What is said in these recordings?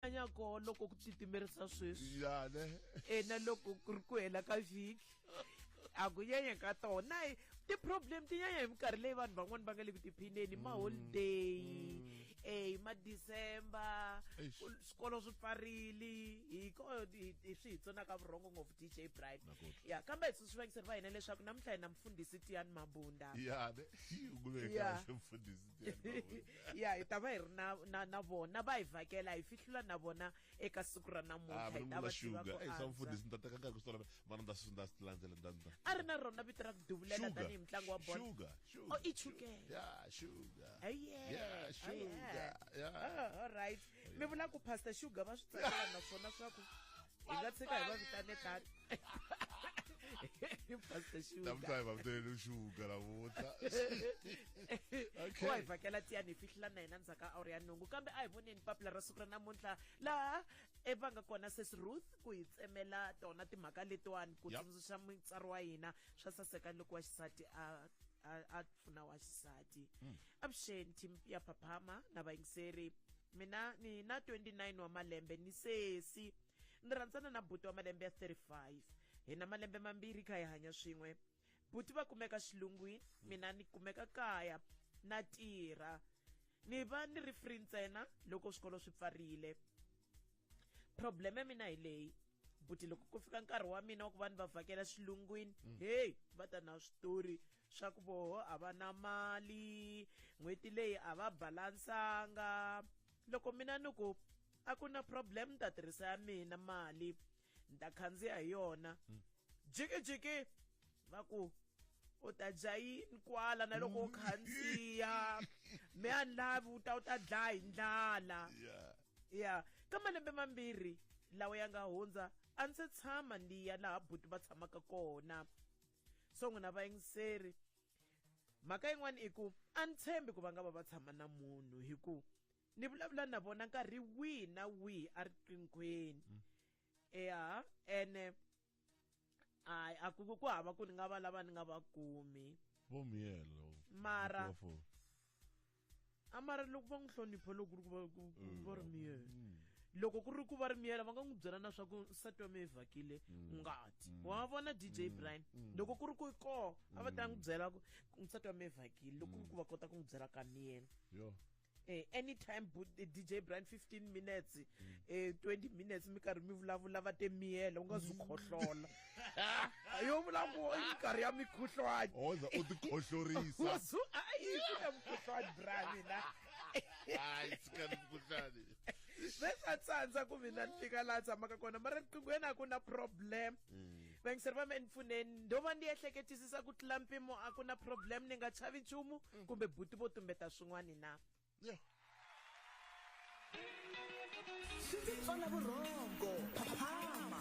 anya ko loko ku titimerisa sweswi yane ena loko ku ri ku hela ka vhiki a ku nyanya ka tona e, ti-problem ti nyanya hi minkarhi leyi vanhu van'wani va nga le ku tiphineni mm. maholiday um mm. eh, hi madecember swikolo swi pfarile hi ko swi hi tsonaka vurhongo ngopfu dj bright ya kambe hi tsundzuxa vangiseri va hina leswaku namuntlha hi na mufundhisi tiyan mabunda ya ne yi mfundhisi ya hi ta va hi ri na na na vona va hi vhakela hi fihlula na vona eka siku ra namuntlha ah, hi ta va tiva ku antswa mfundhisi ni ta teka nkarhi ku swi vana nda swi nda swi landzela nda nda a ri na rona vito ra ku duvulela tanihi mutlangi wa bolo sugar sugar oh i chukele yeah sugar yeah sugar yeah ah, all right mi vula ku pastor sugar va swi tsakela naswona swa ku hi nga tshika hi va vitane tata pastor shuga namtla hi va vitane shuga navuta okay wa hi vhakela tiyani hi fihlela na hina ndzhaka awuri ya nhungu kambe a hi voneni papila ra siku ra namuntlha laha e va nga kona sis ruth ku hi tsemela tona timhaka letiwani ku tsundzuxa mutsari wa hina swa saseka loko wa xisati a a pfuna wa xisati hmm. avuxeni team ya phaphama na vayingiseri mina ni na 29 wa malembe ni sesi ni rhandzana na buti wa malembe ya 35 hi na malembe mambirhi kha hi hanya swin'we buti va kumeka xilungwini mina ni kumeka kaya na tirha ni va ni ri free ntsena loko swikolo swi pfarile problem ya mina hi leyi buti loko ku fika nkarhi wa mina wa ku va ni va vhakela xilungwini mm. heyi va ta na switori swa ku voho a va na mali n'hweti leyi a va balansanga loko mina ni ku a ku na problem ni ta tirhisa ya mina mali ni ta khandziya hi yona mm. jikijiki va ku u ta dya yini kwala na loko u khandziya me a ni lavi u ta u ta dlaya hi ndlala ya ka malembe mambirhi lawa ya nga hundza a ndzi tshama ni ya laha buti va tshamaka kona so n'wina vayingiseri mhaka yin'wana i ku a ni tshembi ku va nga va va tshama na munhu hi ku ni vulavula na vona nkarhi wihi na wihi a riqinghweni mm. eya ene hayi a ku ku hava ku ni nga va lava ni nga va kumi vo miyelo mara a mara loko va n'wi hlonipho loko ku ri ku va ku mm. va ri miyelo mm. loko ku ri ku va ri miyela va nga n'wi byela na swa ku nsati wa mi yi vhakile mm. ngati wa vona dj brian loko ku ri ku koo a va ta n'wi byela ku nsati wa mi yi vhakile loko ku ri ku va kota ku n'wi byela ka miyela eh, anytime eh, dj brian 15 minutes mm. eh, 20 minutes mi karhi mi vulavula va te miyela u nga zwi mm. khohlola yo vulavula i nkarhi ya mikhuhlwani oza u tikhohlorisa ayi ku na mukhuhlwani bra mina hayi sika ni mukhuhlwani ve swa tsandza ku mina ni fika laha tshamaka kona mara riqingo yena a ku na problem mm. vaingiserva me ni pfuneni ndo va ni ehleketisisa ku tlula mpimo a ku na problem ni nga chavi nchumu mm. kumbe buti vo tumbeta swin'wani na yeah. swi ndzi tsona vurhongo phaphama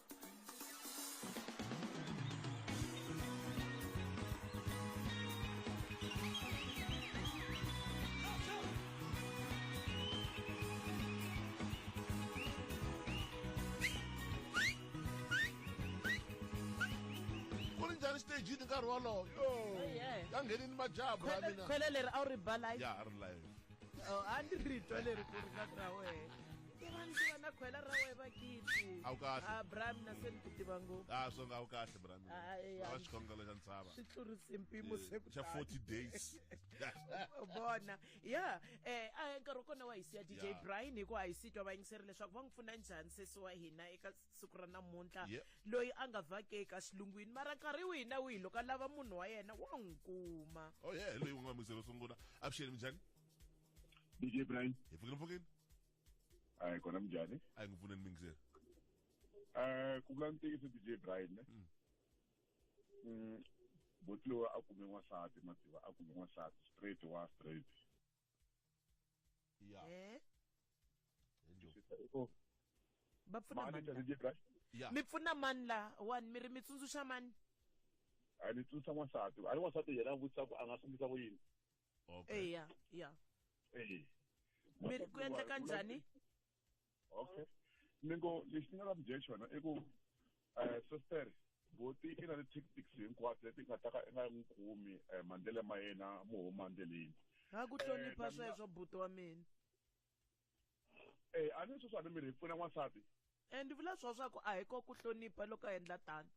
ku ri njhani xitejini nkarhi wolowo yo yeah. ya nghenini majabhu ya mina khwele leri a wu ri ba live ya a ri live Oh, a ni ri twa leri ku ri ka ra wena tivani tiva na khwela ra wehe vakiti A wu kahle. Ah, bra mina se ni ku tiva ngopfu a swo nga wu kahle brami Ah, eh, va ah. xikhongelo xa ntshava swi tlurise mpimo se ku xa tani. 40 days bona ya eh a nkarhi wa kona wa hi siya dj Yeah. brian hi ku a hi sitwa vayingiseri leswaku va n'wi pfuna njhani sesi wa hina eka siku ra namuntlha Yeah. loyi a nga vhake eka xilungwini mara nkarhi wihi na wihi loko a lava munhu wa yena wa n'wi kuma oh yeah loyi u nga mixelo sungula avuxeni minjhani DJ Brian. Hi pfukile mpfukile. Hayi kona minjhani? Hayi ngipfune ni mingisela. Eh ku vula ntiyiso DJ Brian ne. Mm. mm Botliwa a kume n'wansati mativa a kume n'wansati straight wa straight. Ya. Eh. Enjo. Oh. Va pfuna mani la. Ya. Mi pfuna mani la wani mi ri mi tsundzuxa mani? A ni tsundzuxa n'wansati. A ri n'wansati yena a vutisa ku a nga sungisa ku yini? okay eya ya Eh. mi ku endleka njhani okay ni ngo lexi ni nga la mi byela xona i ku um sister boti i na ti-tactics hinkwato leti nga ta ka i nga n'wi kumi um mandlele ma yena mo huma ndleleni ha ku hlonipha Eh, na- sweswo buti wa mina e a ni sweswi a ni miri hi pfuna n'wansati e ni vula swo swa ku a hi ko ku hlonipha loko a endla tano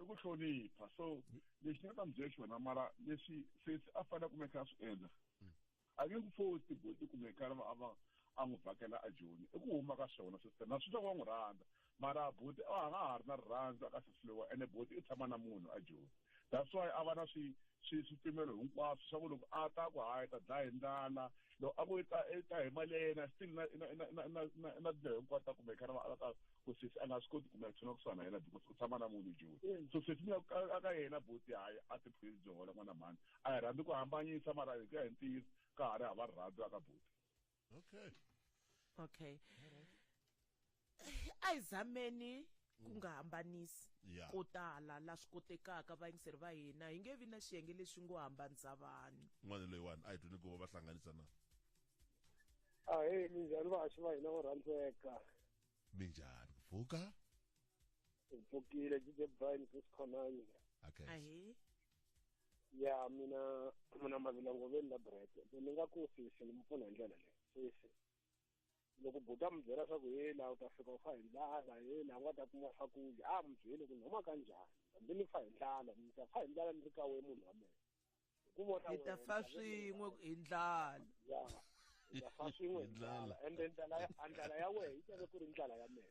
i ku hlonipha so lexi nga ta mi byela xona mara leswi sesi a fanele kumeka a swi endla mm. a nge ku fosi tiboti kumeka a va a n'wi vhakela a joni i ku huma ka swona sister na swi swa ku va n'wi rhandza mara buti a nga ha ri na rirhandzu a ka se fliwa ene buti i tshama na munhu a joni that's why a va na swi swi swipimelo hinkwaswo swa ku loko a ta ku hayi ta dlaya hi ndlala loko a ku i ta i ta hi mali ya yena still na na na na na na na tindlela hinkwato ta kumeka na va ta ku sesi a nga swi koti kumeka tshona ku sana yena because u tshama na munhu joni so sesi mi ya a ka yena buti hayi a ti phili byo hola n'wana mhani a hi rhandzi ku hambanyisa mara hi ku ya hi ntiyiso ka ha ri hava rirhandzu a ka buti okay okay ayizameni ku nga hambanisi yeah. ko tala la swi kotekaka vayingiseri va hina hi nge vi na xiyenge lexi ngo hambanisa vanhu n'wana loyiwani a hi twini ku va hlanganisa na a hi minjhani vahaxi va hina vo rhandzeka minjhani ku pfuka hi pfukile jije brine chris khonani okay. ya mina mina mavilongo ve ni la brete se ni nga ku sisi ni mi pfuna hi ndlela leyi sisi loko buta mi byela swa ku he la u ta fika u fa hi ndlala he la u nga ta kuma swakudya a mi byeli ku ni huma ka njhani hambi ni fa hi ndlala ni ta fa hi ndlala ni ri ka we munhu wa mehe hi ku vona hi ta fa swin'we hi ndlala ya hi ta fa swin'we hi ndlala ende ndlala ya ndlala ya wehe yi teke ku ri ndlala ya mehe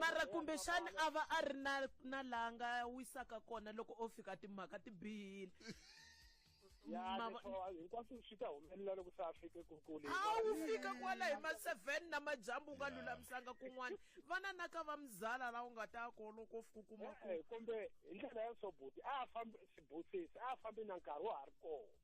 mara kumbexani a va a ri na na laha nga wisaka kona loko o fika timhaka ti bihile hinkwaswo swi ta humelela loko se a fike kukule a wu fika kwala hi ma-seven na majambu u nga lulamisanga kun'wana vana na ka va muzala laha u nga ta ko loko fika u kuma kumbe hi ndlela ya so buti a a fambi sibusisi a a fambi na nkarhi wa ha ri kona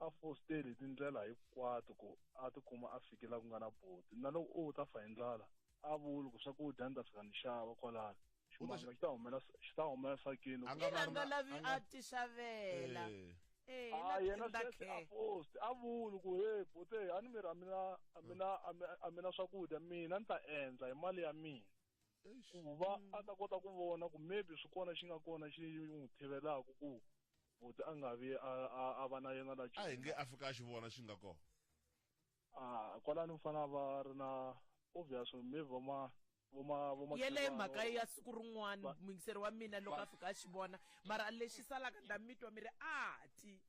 a fosteli hi tindlela hinkwato ku a tikuma a fike la ku nga na boti na loko u ta fa hi ndlala a vuli ku swakudya ni ta fika ni xava kwalano ximanga xi ta humela xi ta humela sakini A nga ina nga lavi a ti xavela Eh. Eh, a la yena tenda sweswi a khe. post a vuli ku he bote a ni miri a mina a mina a mi- a mina swakudya mina ni ta endla hi mali ya mina ku va a ta kota ku vona ku maybe swi kona xi nga kona xi n'wi thivelaku ku buti a nga vi a a- a va na yena la a hi nge a fika a xi vona xi nga kona Ah, kwalani mfana va ri na obvious maybe vo ma vo ma vo ma yeleyo Khivani mhaka or- ya siku rin'wana Va- muyingiseri wa mina loko a fika a xi vona mara lexi salaka ndza mitwa mi ri a ti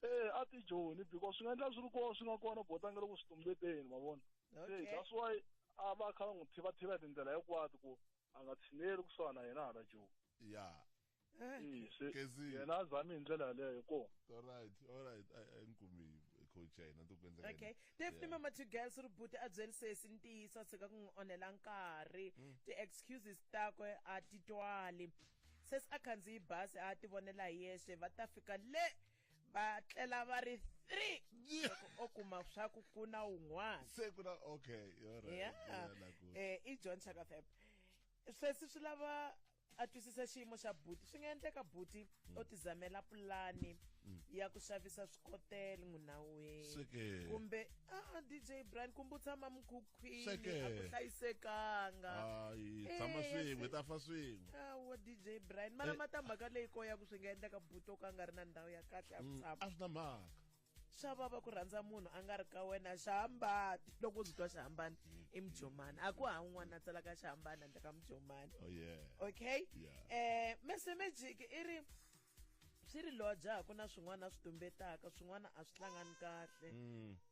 ee a ti joni because swi nga endla swi ri kona swi nga kona botange loko swi tumbeteni ma vona se that's why a va kha va n'wi thivathiva hi tindlela hinkwato ku a nga tshineli kusuhana na yena hala joni ya eh. se yena a zami hi ndlela yaleyo hi kona alright alright a ni kumi coach ya hina ku endleka okay def ni mama two girls ri buti a byeli sesi ntiyiso a tshika ku n'wi onhela nkarhi mm. ti-excuses takwe a ti twali Sesi a khandziyi bazi a a ti vonela hi yexe va ta fika le va tlela va ri three loko o kuma swa ku ku na un'wana se ku na okay all right Yeah. Yeah, na ku- Eh, i john chakafep sweswi swi lava a twisisa xiyimo xa buti swi nga endleka buti o tizamela pulani ya ku xavisa swikotele n'winaweni Swi ke. kumbe ah dj brian kumbe u tshama mukhuku khwini a ku Swekeke. hlayisekanga hayi Eh, tshama swin'we ta fa swin'we awa dj brian mara Eh. matamhaka leyi ko ya ku swi nga endleka buto ka a nga ri na ndhawu ya kahle ya ku Mm, tshama a swi na mhaka swa vava ku rhandza munhu a nga ri ka wena xihambani loko u swi twa xihambani i mujomani a ku ha un'wana a tsalaka xihambani handle ka mujomani oh yeah okay Yeah. eh mese magic i ri swi ri lodya ha ku na swin'wana a swi tumbetaka swin'wana a swi hlangani kahle Mm.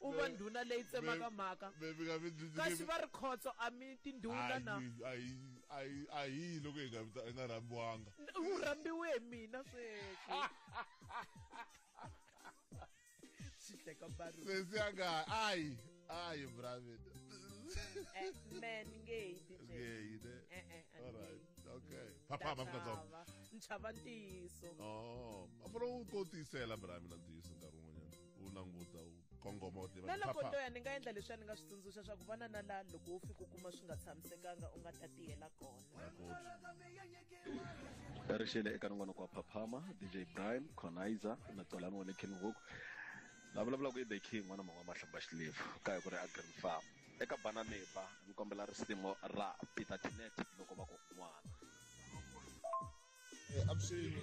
u va ndhuna leyi tsemaka mhaka Baby nga mi kasi va ri khotso a mi tindhuna na ayi ayi ayi loko hi nga vita- hi nga rhambiwanga u rhambiwe hi mina sweswi swi teka baru sesi ya nga ayi ayi bravin Eh, man nge hi ti tshembi. ngeyi ne Eh, eh, a ni all right nge hi. okay Ndza phaphama afrikatsonga chava. ni chava ntiyiso oh a fana u ko tiyisela bravin a ntiyiso nkarhi wun'wanyana u languta u kongoma u tiva na loko to ya ni nga endla leswi a ni nga swi tsundzuxa swa ku vana na la loko wo fika u kuma swi nga tshamisekanga u nga ta tiyela kona ri xele eka nongonoko wa phaphama dj brian conizer na tolani wa le king hook la vulavulaka i the king n'wana mangwa mahlamba xilevu ka hi ku ri agrin farm eka bana neba ni kombela risimu ra peter tinet loko va ku n'wana eh, avuxeni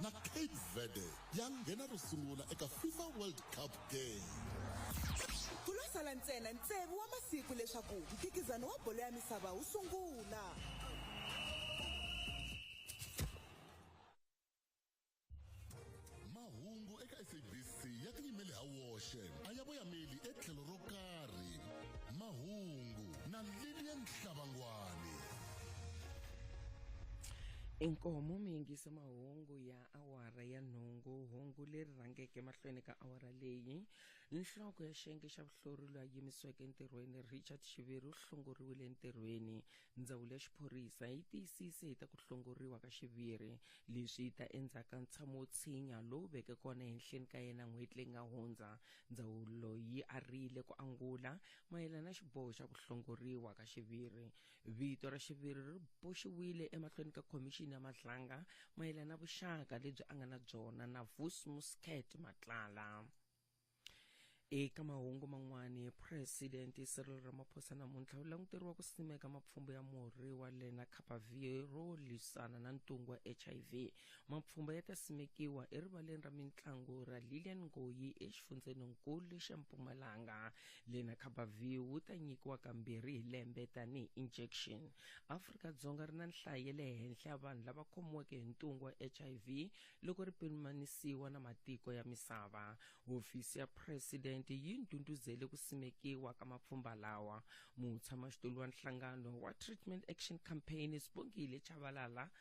na cape verde ya nghena ro sungula eka fifa world cup game ku lo sala ntsena ntsevu wa masiku leswaku mphikizano wa bolo ya misava wu sungula mahungu eka sabc ya tiyimele ha woxe a ya voyameli etlhelo ro karhi mahungu na lilian hlabangwani inkomo miyingiso mahungu ya awara ya nhungu hungu leri rhangeke mahlweni ka awara leyi nhloko ya xiyenge xa vuhlori loyi a yimisiweke entirhweni richard xiviri u hlongoriwile entirhweni ndzawulo ya xiphorisa yi tiyisise hi ta ku hlongoriwa ka xiviri leswi yi ta endzhaku ka ntshamo wo tshinya lowu veke kona ehenhleni ka yena n'hweti leyi nga hundza ndzawulo yi arile ku angula mayelana na xiboho xa ku hlongoriwa ka xiviri Vito ra xiviri ri boxiwile emahlweni ka khomixini ya Matlanga mayelana na vuxaka lebyi a nga na byona na Vus Muscat Matlala. Eka mahungu man'wana, Presidente Cyril Ramaphosa namuntlha u languteriwa ku simeka mapfhumba ya murhi wa Lenacapavir ro lwisana na ntungu wa HIV Mapfhumba ya ta simekiwa erivaleni ra mintlangu ra Lilian Ngoyi exifundzheninkulu xa Mpumalanga. Lena Khabavi wu ta nyikiwa kambirhi hi lembe tanihi injection. Afrika-Dzonga ri na nhlayo ya le henhla ya vanhu lava khomiweke hi ntungu wa HIV loko ri pimanisiwa na matiko ya misava. Hofisi ya President yi ndhundhuzele ku simekiwa ka mapfhumba lawa. Mutshamaxitulu wa nhlangano wa Treatment Action Campaign Sbongile Tshabalala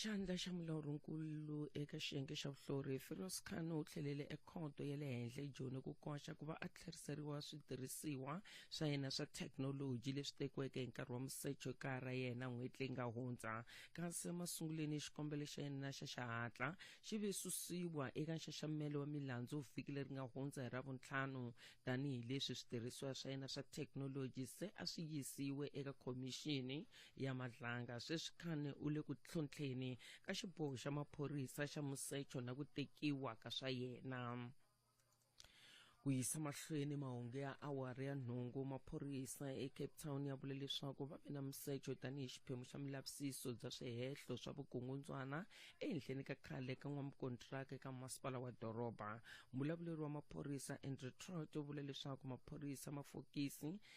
xandla xa mulawurinkulu eka xiyenge xa vuhlori firos khan u tlhelele ekhoto ya le henhla ejoni ku koxa ku va a tlheriseriwa switirhisiwa swa yena swa thekinoloji leswi tekiweke hi nkarhi wa musecho ekaya ra yena n'hweti leyi nga hundza kasi emasunguleni xikombelo xa yena xa xihatla xi ve susiwa eka nxaxamelo wa milandzu vhiki leri nga hundza hi ravuntlhanu tanihileswi switirhisiwa swa yena swa thekinoloji se a swi yisiwe eka khomixini ya madlanga sweswi khane u le ku tlhontlheni ka xiboho xa maphorisa xa musecho na ku tekiwa ka swa yena ku yisa mahlweni mahungu ya awara ya nhungu maphorisa ecape town ya vule leswaku va ve na musecho tanihi xiphemu xa milavisiso bya swihehlo swa vukungundzwana ehenhleni ka khale ka n'wamukontiraka eka masipala wa doroba mbulavuleri wa maphorisa andrew trot u vule leswaku maphorisa mafokisi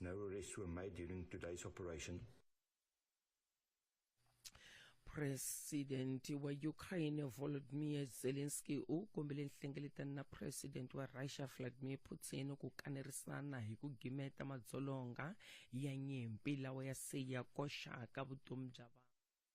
No arrests were made during today's operation. Phuresidente wa Ukraine Volodymyr Zelensky u kombele nhlengeletano na Phuresidente wa Russia Vladimir Putin ku kanerisana hi ku gimeta madzolonga ya nyimpi lawa ya se ya koxaka vutomi bya vanhu.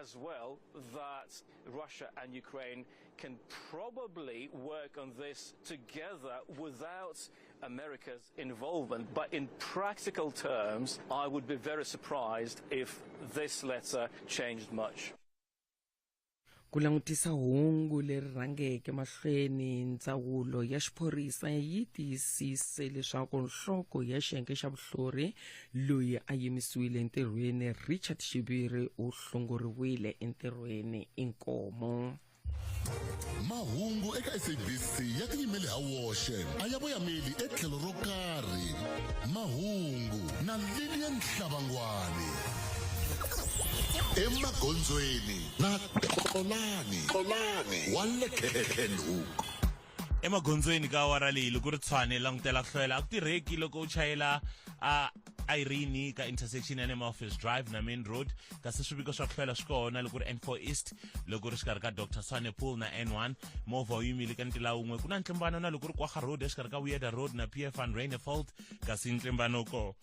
as well that Russia and Ukraine can probably work on this together without America's involvement. But in practical terms, I would be very surprised if this letter changed much. ku langutisa hungu leri rhangeke mahlweni ndzawulo ya xiphorisa yi tiyisise leswaku nhloko ya xiyenge xa vuhlori loyi a yimisiwile entirhweni richard xiviri u hlongoriwile entirhweni inkomo mahungu eka sabc ya tiyimele ha woxe a ya voyameli etlhelo ro karhi mahungu na lilian nhlabangwani emagondzweni na xolani xolani wa le khenhuk emagondzweni ka awara leyi loko ri tshwane langutela ku hloyela a ku tirheki loko u chayela a irene ka intersection ya le maoffice drive na main road kasi swiviko swa ku hloyela swi kona loko ri n4 east loko ri xikarhi ka dr swane pool na n1 movha wu yimile ka ntila wun'we ku na ntlimbano na loko ri kwaha road exikarhi ka weirder road na pf and rainefold kasi ntlimbano ko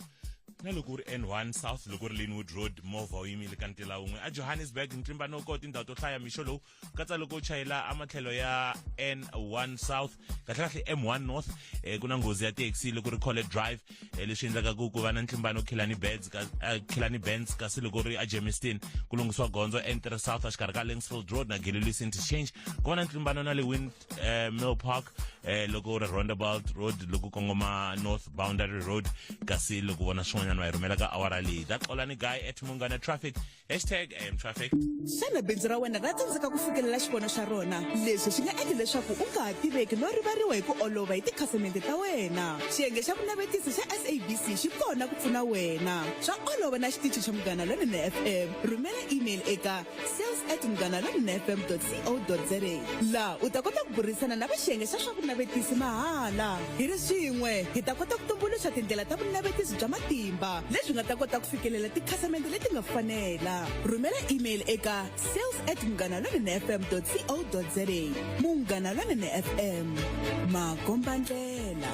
na loko u ri n1 south loko u ri linwood road movha wu yimile ka ntila wun'we ejohannesburg ntlimbanoko tindhawu to hlaya mixo lowu katsa loko u chayela amatlhelo ya n1 south kahlekahle m1 north eh, ku na nghozi ya taxi loko ri college drive eh, leswi endlaka ku ku va na ntlimbano khilani beds ka eh, khilani bends kasi loko ri a germiston ku lunghisiwa gondzo n3 south exikarhi ka linksfield road na galilees interchange ku va na ntlimbano na le wind eh, mill park eh, loko ri roundabout road loko kongoma north boundary road kasi loko vona swin'wanyana va yi rhumela ka awara leyi ta xolani guy at mungana traffic hashtag am traffic xana bindzu ra wena ra tsandzeka ku fikelela xivono xa rona leswi swi nga endla leswaku u nga ha tiveki no rivariwa hi ku olova hi tikhasimende ta wena xiyenge xa vunavetisi xa sabc xi kona ku pfuna wena swa olova na xitichi xa munghana lonene fm rhumela email eka sales at munghana lonene fm co za laha u ta kota ku burisana na va xiyenge xa swa vunavetisi mahala Hi ri swin'we, hi ta kota ku tumbuluxa tindlela ta vunavetisi bya matimba lebyi nga ta kota ku fikelela tikhasamende leti nga fanela. Rhumela email eka sales at munghanalonenefm.co.za. Munghana Lonene FM, makombandlela.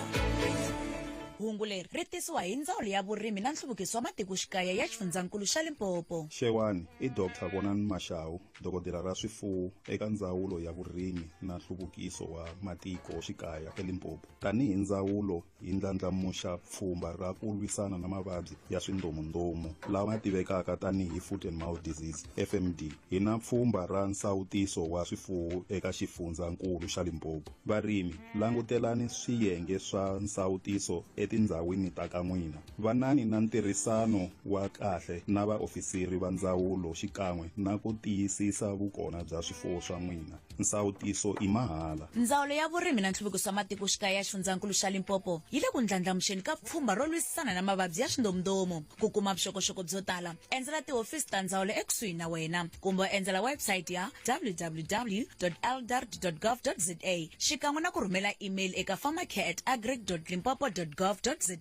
hungu leri ri tisiwa hi ndzawulo ya vurimi na nhluvukiso wa matikoxikaya ya xifundzankulu xa limpopo Xewani, i Dr. Vonani Mashawu. Dokodela ra swifuwo eka Ndzawulo ya Vurimi na Nhluvukiso wa Matiko Xikaya eLimpopo. Tanihi ndzawulo hi ndlandlamuxa pfhumba ra ku lwisana na mavabyi ya swindhomundhomu lama tivekaka tanihi Foot and Mouth Disease, FMD. Hi na pfhumba ra nsawutiso wa swifuwo eka Xifundzankulu xa Limpopo. Varimi, langutelani swiyenge swa nsawutiso etindhawini ta ka n'wina. Vanani na ntirhisano wa kahle na vaofisiri va ndzawulo xikan'we na ku tiyisisa vukona bya swifuwo swa n'wina. Nsawutiso i mahala. Ndzawulo ya Vurimi na Nhluvukiso wa Matikoxikaya ya Xifundzankulu xa Limpopo yi le ku ndlandlamuxeni ka pfhumba ro lwisana na mavabyi ya swindomundomu. Ku kuma vuxokoxoko byo tala, endzela tihofisi ta ndzawulo ekusuhi na wena kumbe u endzela website ya www eldar gov za xikan'we na ku rhumela email eka pharmacare at agric limpopo gov za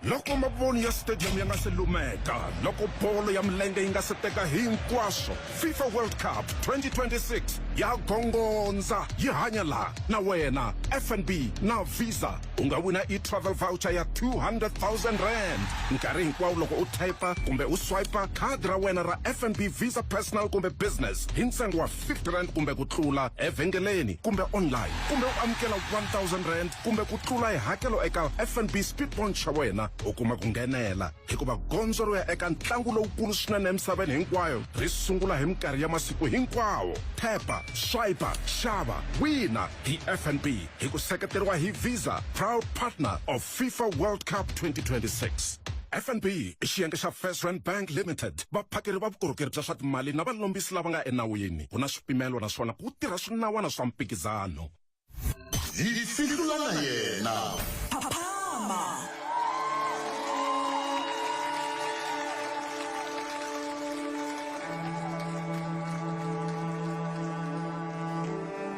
loko mavoni ya stadium ya nga se lumeka loko bolo ya milenge yi nga se teka hinkwaswo fifa world cup 2026 ya gongondza yi hanya laha na wena fnb na visa u nga wina e-travel voucher ya 200000 rand nkarhi hinkwawo loko u typa kumbe u swipa khadi ra wena ra fnb visa personal kumbe business hi ntsengo wa 50 rand kumbe ku tlula evhengeleni kumbe online kumbe u amukela 1000 rand kumbe ku tlula hi hakelo eka fnb speed point xa wena u kuma ku nghenela hikuva gondzo ro ya eka ntlangu lowukulu swinene emisaveni hinkwayo ri sungula hi minkarhi ya masiku hinkwawo tap swipa xava wina hi fnb hi ku seketeriwa hi visa proud partner of fifa world cup 2026 fnb i xiyenge xa first rand bank limited vaphakeri va vukorhokeri bya swa timali na valombisi lava nga enawini ku na swipimelo naswona ku tirha swinawana swa mphikizano hi fihlula na yena phama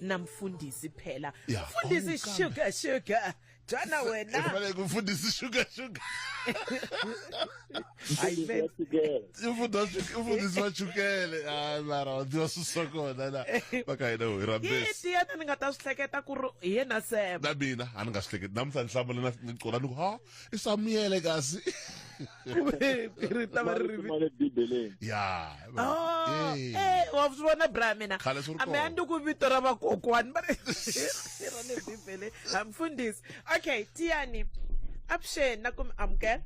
namfundisi phela Ya, mfundisi awukambe. sugar sugar jana wena Efanele kumfundisi sugar sugar. Hayi Mfundisi wa chukele. Imfundo shu- imfundiso wa chukele. Hayi mara wa tiva susa kona la. Maka hina ho hi rambesi. yiti yena ni nga ta swi hleketa ku ri hi yena sema na mina a ni nga swi hleketi namuntlha ni hlamula na ni cola ni ku ha i swa miyele kasi ri ta va ri ri ya oh, eh wa swi vona bra mina ambe a ndi ku vito ra vakokwani va ri ra le bibeleni hamfundisi okay tiyani avuxeni na ku mi amukela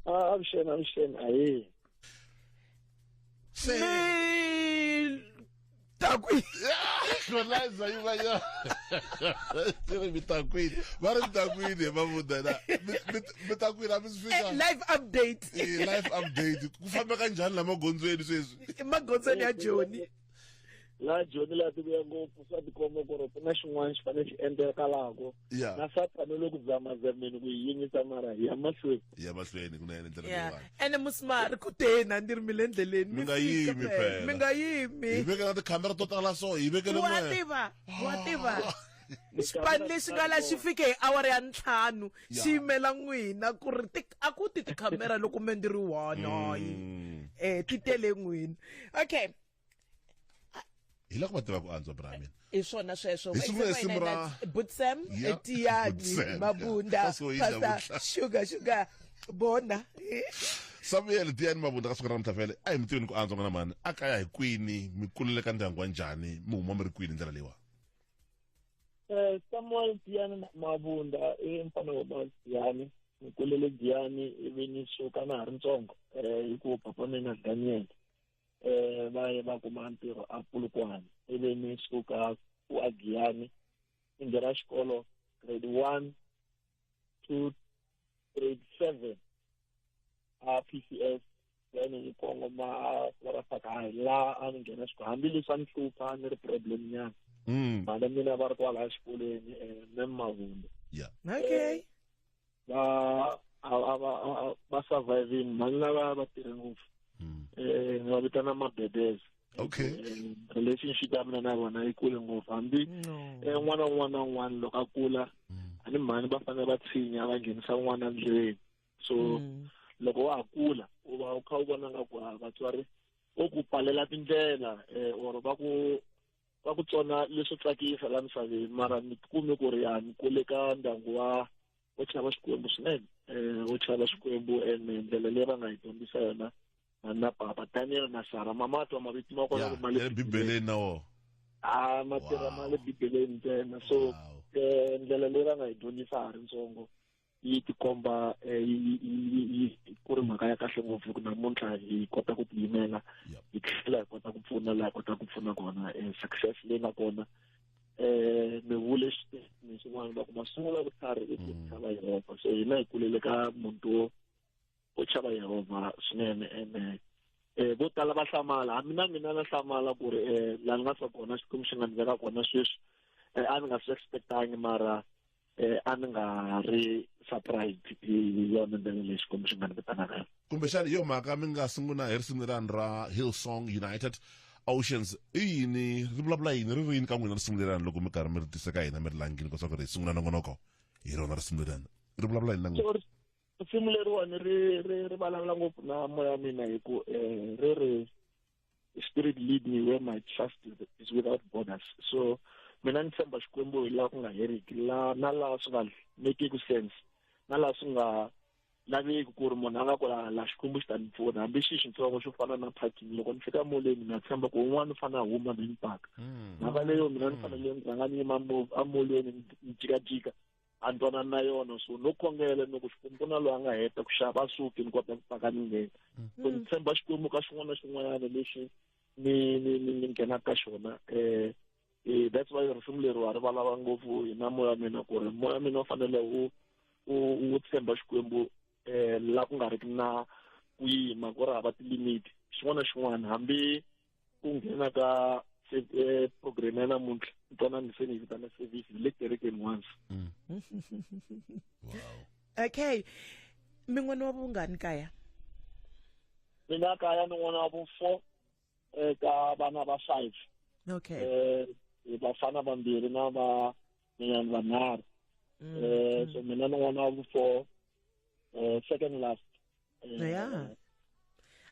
ah, avuxeni avuxeni ahee se mitakwini kona zaivayo tiri mitakwini va ri mitakwini he mavudana mitakwini a mi swi fika Eh, live update Eh, life update ku fambeka njhani la magondzweni sweswi emagondzweni ya joni laha joni laha ti vuya ngopfu swa tikomba ku ri ku na xin'wana xi fanele xi endlekalako yeah. na satani loko zamazameni ku yi yingisa mara ya mahlweni ya mahlweni ku na yena ndlela yeah. leyiwani ene musimari ku tena ni ri mi le endleleni mi nga yimi phela mi nga yimi hi veke na tikhamera to tala so hi vekele wa tiva wa tiva xipani lexi nga la xi fike hi awara ya ntlhanu xi yimela n'wina ku ri a ku ti tikhamera loko me ndi ri one mm. eh ti tele n'wina okay hi loko va tiva ku antswa bra mina i swona sweswo Hi sungula hi simu ra- butsem Yeah, etiyani Butsem, mabunda yeah. That's what he said, pasta Butsem. sugar sugar bona samuel tiyani mavunda ka siku ra namuntlha vele a hi mi tiveni ku antswa n'wana mani a kaya hi kwini mi kulele ka ndyangu wa njhani mi huma mi ri kwini hi ndlela leyiwa Eh, Samuel Diane Mabunda i mfana wa Mount Diane ni kulele Diane ivi ni suka na ha ri ntsongo eh hikuva papa mina Daniel eh va ye va kuma ntirho a Polokwane ivi ni suka ku a Giyani ni nghena xikolo grade one to grade seven a PCS then ni kongoma ra Sakayi laha a ni nghena xikolo hambileswi a ni hlupha ni ri problem nyana Mm. mhana mina va ri kwalaya xikolweni um mem mavunde Yeah. okay va a a va a- va surviving mhani lava va tirhe ngopfu Mm. eh ni va vitana mabebes Okay. Eh, relationship ya mina na vona yi kule ngopfu hambi No. eh n'wana un'wana na un'wana loko a kula Mm. a ni mhani va fanele va tshinya va nghenisa n'wana ndlwini so Mm. loko wa ha kula u va u kha u vona nga ku ah, vatswari vo ku palela tindlela eh or va ku ka ku tsona leswo tsakisa la misaveni mara ni kume ku ri ya ni kule ka ndyangu wa wo chava xikwembu swinene um wo chava xikwembu and ndlela leyi va nga hi dyondzisa yona na papa daniel na sara mama twa mavito ma kona ma le bibeleni na wona a ma tirha ma le bibeleni ntsena so um ndlela leyi va nga hi dyondzisa ha ri ntsongo yi tikomba eh, yi ku ri mhaka ya kahle ngopfu ku namuntlha hi kota ku tiyimela hi tlhela hi kota ku pfuna laha hi kota ku pfuna kona eh, success leyi nga kona um mi vule xiteni xin'wana loko masungula vutlhari i ku mm. chava yehovha so hina hi kulele ka muti wo wo chava yehovha swinene ene um eh, vo tala va hlamala hambi na mina na hlamala ku ri um laha ni nga sa kona xikwembu xi nga ni veka kona sweswi a ni nga swi expectangi mara eh a ni nga ri surprised hi yona ndlela leyi xikwembu xi nga ni vitanaka yona kumbexana hi yo mhaka mi nga sungula hi risimu lerani ra hillsong united oceans i yini ri vulavula yini ri ri yini ka n'wina risimu lerani loko mi karhi mi ri tisa ka hina mi ri langile leswaku ri hi sungula nongonoko hi rona risimu lerani ri vulavula yini na n'wina so risimu leriwani ri ri ri vulavula ngopfu na moya wa mina hi ku um ri ri spirit lead me where my trust is without borders so mina ni tshemba xikwembu hi laha ku nga heriki la na laha swi nga mekeki sense na laha swi nga laveki ku ri munhu a nga ku la la xikwembu xi ta ni pfuna hambi xi xitsongo xo fana na parking loko ni fika moleni na tshemba ku un'wana u fanele a huma mi ni paka hmm. mhaka leyo mina ni fanele ni rhanga ni yima amolweni ni jikajika a ni twanani na yona so no khongela ni ku xikwembu ku na loyi a nga heta ku xava a suki ni kota ku paka ni nghena so ni tshemba xikwembu ka xin'wana na xin'wanyana lexi ni ni ni ni nghenaka ka xona um eh that's why risimu leri wa ri valava ngopfu hi na moya mina ku ri moya mina u fanele u u u tshemba xikwembu um la ku nga ri ki na ku yima ku ri hava tilimiti xin'wana na xin'wana hambi ku nghena ka eh, program ya namuntlha ntwanani se ni yi vitana service le kerekeni once mm. wow okay min'wana wa vungani kaya mina kaya ni n'wana wa vu-four um ka vana va five okay um vafana vambirhi na va minyani vanharhu um so mina ni n'wana wa vu-four um second last ya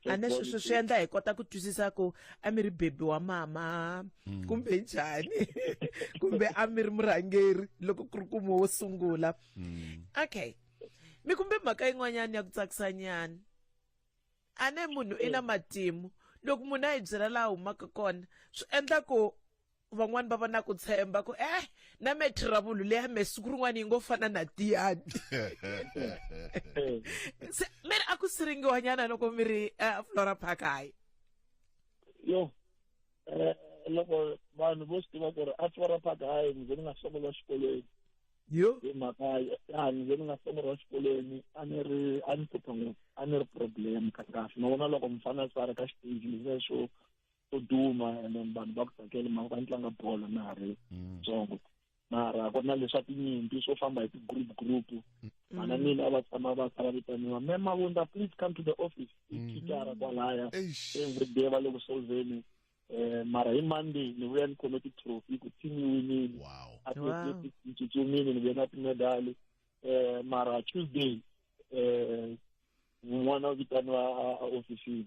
a ni swi swi swi endla hi kota ku twisisa ku a mi ri bebi wa mama hmm. kumbe njhani kumbe a mi ri murhangeri loko ku ri kumo wo sungula hmm. okay mi kumbe mhaka yin'wanyana ya ku tsakisanyana a ne munhu i na matimu loko munhu a hi byela laha humaka kona swi endla ku van'wani va va na ku tshemba ku eh na me trouble leya me siku rin'wana yi ngo fana na tiyani se mi ri a ku siringiwanyana loko mi ri eh, flora park hayi yo eh, loko vanhu vo swi tiva ku ri a flora park hayi ni ze ni nga sungula xikolweni yo hi mhaka ya ni ze ni nga sungula xikolweni a ni ri a ni hlupha ngopfu a ni ri problem ka kahle na vona loko mufana a swi va ri ka xiteji leswo to duma and then vanhu va ku tsakele mhaka va ni tlanga bolo na ha ri mm. ntsongo mara ku ri na leswa tinyimpi swo famba hi ti-group group mm. vana mina a va tshama va sala vitaniwa me mavunda please come to the office i mm. khitara kwalaya engwede va le ku solveni um mara hi monday ni vuya ni khome ti-trophy ku team yi winile athletics ni tsutsumile ni vuye na timedali um mara tuesday um n'wana vitaniwa a ofisini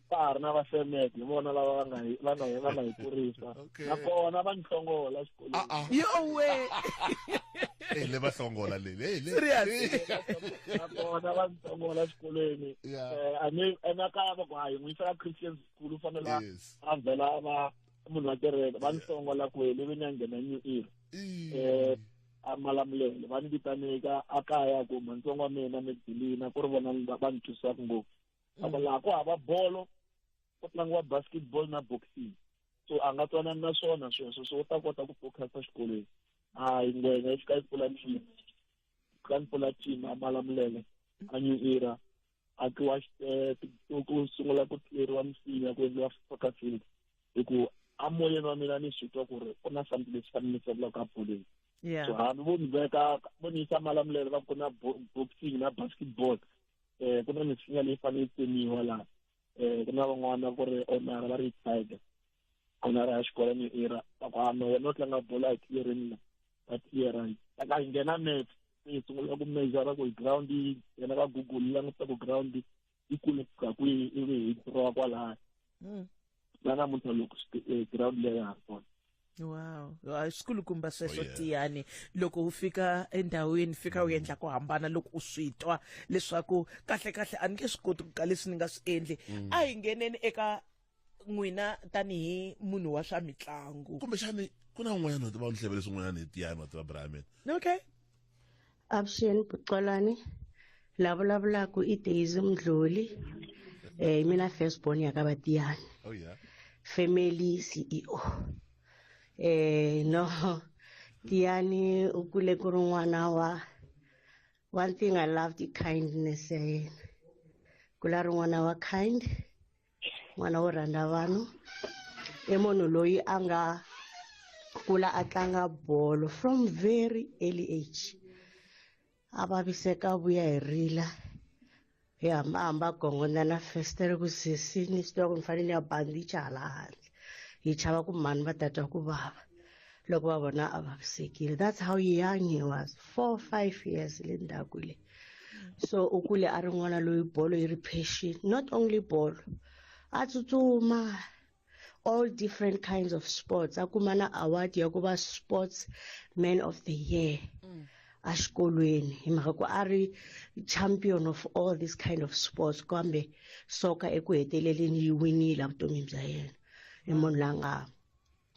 va ha ri na va semet hi vona lava va nga hi va nga hi va nga hi kurisa Okay. nakona va ni hlongola xikolweni Ah, ah. yowe Eh, le va hlongola le le le serious nakona va ni hlongola xikolweni Yeah. Eh, a ni emakaya va ku hayi n'wi yisa ka christian school u fanele a- Yes. a vhela a va munhu wa kereke va ni hlongola kwele ve ni ya nghena new era Ih. eh a malamulele va ni vitaneka a kaya ku mantsongo wa mina mi dilina ku ri vona ni- va ni thusaka ngopfu loko laha ku hava bolo ku tlangiwa basketball na boxing so a nga twanani na swona sweswo so u ta kota ku focusa xikolweni hayi ngwenya yi fika yi pfula team ka ni pfula team a mala milenge a new era a tliwa eh, ku sungula ku tleriwa misinya ku endliwa soccer field hi ku a moyeni wa mina ni swi twa ku ri ku na something lexi fanele ni tsakulaka ka boleni so hambi vo ni veka vo ni yisa malamulelo va ku na boxing na basketball um ku na misinya leyi fanele yi tsemiwa laha um ku na van'wana ku ri onara va ri tiger onara ya xikolo ni era va ku hama wena u tlanga bolo a hi tiyereni la va tiyerani a hi nghena map se hi sungula ku mejara ku hi ground yi yena va google languta ku ground yi kule ku fika kwihi ivi hi throwa kwalaya va namuntlha loko eh, ground leyi ha ri kona wow swikulukumba sweswo oh, yeah. tiyani loko u fika endhawini fika u mm. endla ku hambana loko u swi twa leswaku kahle kahle a ni nge swi koti ku ka leswi ni nga swi endli mm. a hi ngheneni eka n'wina tanihi munhu wa swa mitlangu kumbexani ku na un'wanyana wa tiva ni hleve leswi un'wanyana hi tiyani wa tiva brian okay avuxeni bucolwani la vulavulaka i daisy mdluli um mina first born ya ka vatiyani oh, yeah. family ceo um no tiyani u kule ku ri n'wana wa one thing i loved i kindness ya yena kula ri n'wana wa kind n'wana wo rhandza vanhu i munhu loyi a nga kula a tlanga bolo from very early age a vaviseka vuya hi rila hi hambahamba gongondza na festere ku sesini swi tiva ku ni fanele ni ya bandicha hala handle hi chava ku mhani va tatwa ku vava loko va vona a vavisekile that's how young he was four five years le ndzhaku leyi so u kule a ri n'wana loyi bolo yi ri passion not only bolo a tsutsuma all different kinds of sports a kuma na award ya ku va sports man of the year mm. a xikolweni hi mhaka ku a ri champion of all this kind of sports kambe soka eku heteleleni yi winile evutomini bya yena i munhu la nga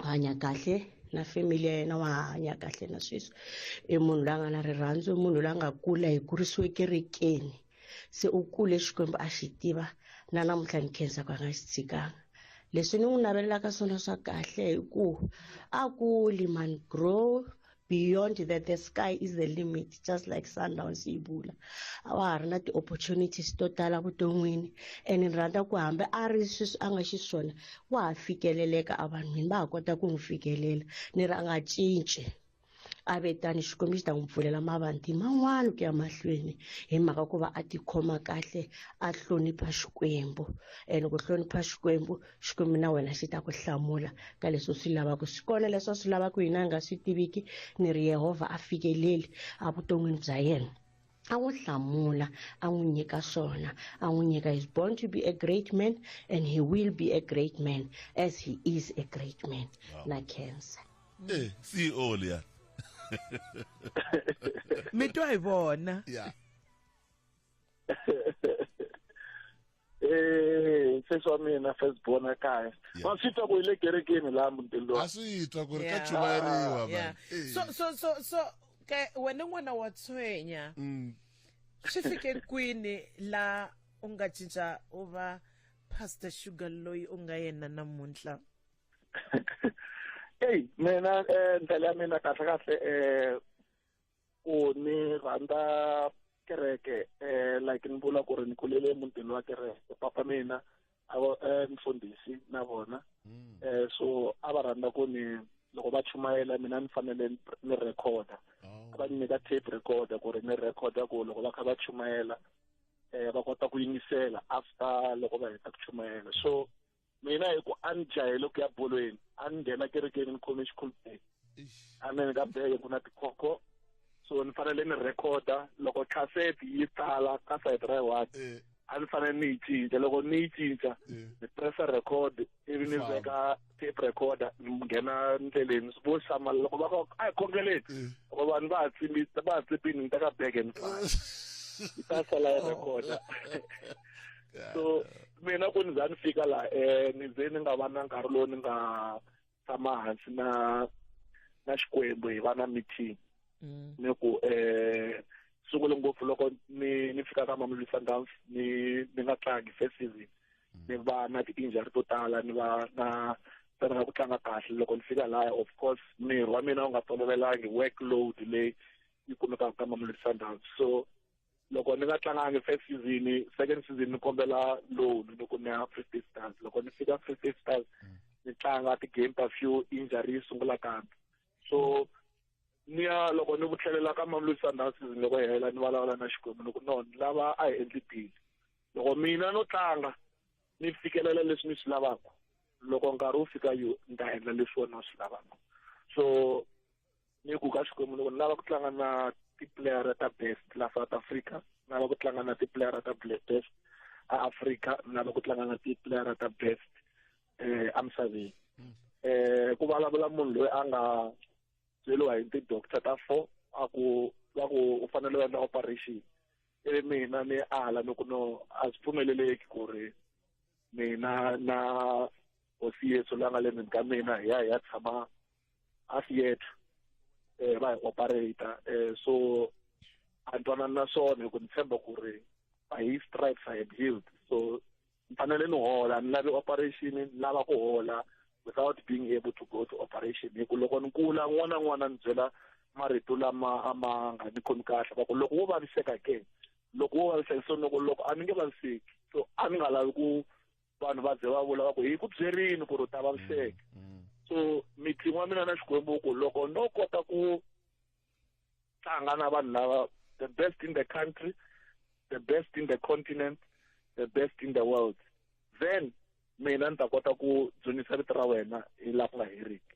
hanya kahle na family ya yena wa hanya kahle na sweswi i munhu la nga na rirhandzu i munhu la nga kula hi kurisiwe kerekeni se u kule xikwembu a xi tiva na namuntlha ni khensa ku a nga xi tshikanga leswi ni n'wi navelelaka swona swa kahle hi ku a kuli man grow beyond that the sky is the limit just like sundowns yi bula a wa ha ri na ti-opportunities to tala vuton'wini and ni rhandza ku hambi a ri sweswi a nga xiswona wa ha fikeleleka a vanhwini va ha kota ku n'wi fikelela ni ri a nga cinci a ve tani xikwembu xi ta n'wi pfulela mavanti man'wana ku ya mahlweni hi mhaka ku va a tikhoma kahle a hlonipha xikwembu and ku hlonipha xikwembu xikwembu na wena xi ta ku hlamula ka leswi u swi lavaka swi kona leswi a swi lavaka hina a nga swi tiviki ni ri yehovha a fikeleli evuton'wini bya yena a n'wi hlamula a n'wi nyika swona a n'wi nyika is born to be a great man and he will be a great man as he is a great man wow. na cancer eh CEO liya mi twa hi vona yeah Eh, sesi wa mina first born ekaya Yeah. wa swi twa ku hi le kerekeni laha mutini lowa a swi twa ku ri ka Yeah. chuvariwa Yeah. vanhu Eh. so so so so ke wena n'wana wa tshwenya Mm. swi fike kwini la u nga cinca u va pastor sugar loyi u nga yena namuntlha eyi mina um ndlela ya mina kahle kahle um ku ni rhandza kereke eh like ni vula ku ri ni kulele emutini wa kereke papa mina a va eh, mfundhisi na vona Mm. eh so a va rhandza ku ni loko va chumayela mina ni fanele ni- ni recorda Oh. a va ni nyika tape recorder ku ri ni recorda ku loko va kha va chumayela eh va kota ku yingisela after loko va heta ku chumayela so mina hi ku a ni jahele ku ya bolweni a ni nghena kerekeni ni khome xikhulupeni a ni ka bege ku na tikhokho so ni fanele ni rhekhoda loko cassette yi tsala ka side ra one eh. a ni fanele ni yi cinca loko ni yi cinca eh. ni pressa record ivi ni veka tape recorder ni nghena ndleleni swi vo xama loko va ko a hi khongeleni eh. loko vanhu va ha tsimbi va ha tsipini ni teka bege ni pfala yi ta sala yi recorder so mina ku ni za ni fika laha um ni ze ni nga va na nkarhi lowu ni nga tshama hansi na na xikwembu hi va na meeting mm. ni ku um sungule ngopfu loko ni ni fika ka mamluli sundowns ni ni nga tlangi first season mm. ni va na ti-injury to tala ni va na tsanaka ku tlanga kahle loko ni fika laya of course miri wa mina wu nga tolovelangi work load leyi yi kumekaka ka mamluli sundowns so loko ni nga tlangangi first season second season ni kombela loan loko ni ya free state stars loko ni fika free state stars mm. ni tlanga ti-game ta few injury yi sungula kambe so ni ya loko ni vutlhelela ka mamelodi sundowns season loko yi hela ni vulavula na xikwembu loko no ni lava a hi endli deal loko mina no tlanga ni fikelela leswi ni swi lavaka loko nkarhi wu fika yo ni ta endla leswi wena u swi lavaka so ni ku ka xikwembu loko ni lava ku tlanga na tipuleyara ta best la south africa ni lava ku tlanga na tipuleyara ta best a africa ni lava ku tlanga na tipuleyara ta best um emisaveni um hmm. eh, ku vulavula munhu loyi a nga byeriwa hi ti-doctor ta four a ku va ku u fanele u endla operation ivi mina ni ala ni ku no a swi pfumeleleki ku ri mina na hosi yesu la nga le ndzeni ka mina hi ya hi ya tshama a theatre eh ba operator eh so antwana na swona ku ni tshemba ku ri by his stripes i am healed so ni fanele ni hola ni lavi operation ni lava ku hola without being able to go to operation hi ku loko ni kula n'wana n'wana ni byela marito lama a ma nga ni khomi kahle va ku loko wo vaviseka ke loko wo vaviseka so loko loko a ni nge vaviseki so a ni nga lavi ku vanhu va ze va vula va ku hi ku byerini ku ri u ta vaviseka mm, mm. so meeting wa mina na xikwembu ku loko no kota ku tlanga na vanhu lava the best in the country the best in the continent the best in the world then mina ni ta kota ku dzunisa vito ra wena hi laha ku nga heriki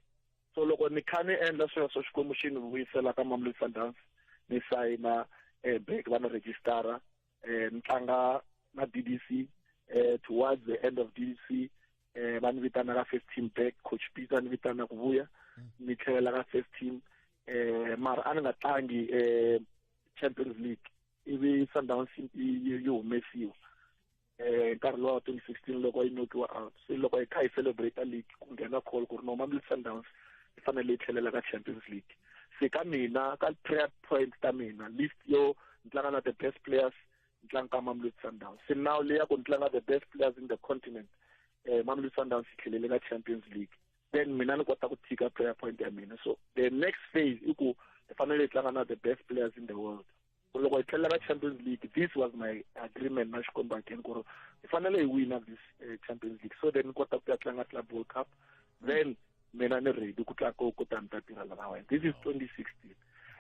so loko ni kha ni endla sweswo xikwembu xi ni vuyisela ka mamlodi sundowns ni sayina um eh, bank va ni rejistara eh, ni tlanga na d d c eh, towards the end of d d c eh, va ni vitana ka first team back coach peter ni vitana ku vuya mm. ni tlhelela ka first team eh, mara a ni nga tlangi eh, champions league ivi sundowns yi humesiwa eh nkarhi lowa 2016 loko yi nokiwa out se loko hi kha hi celebrate league ku nghena call ku ri no mamlid sundowns yi fanele yi tlhelela ka champions league se ka mina ka prayer point ta mina list yo ni tlanga na the best players ni tlanga ka mamelodi sundowns se now leya ku ni tlanga the best players in the continent um mamelodi sundowns yi tlhelele ka champions league then mina ni kota ku tshika prayer point ya mina so the next phase i ku hi fanele hi tlanga na the best players in the world loko hi tlhelela ka champions league this was my agreement na xikombo again ku ri hi fanele hi wina this uh, champions league so then ni kota ku ya tlanga club world cup then mina ni ready ku tla ku ta ni ta tirha lava wena this is 2016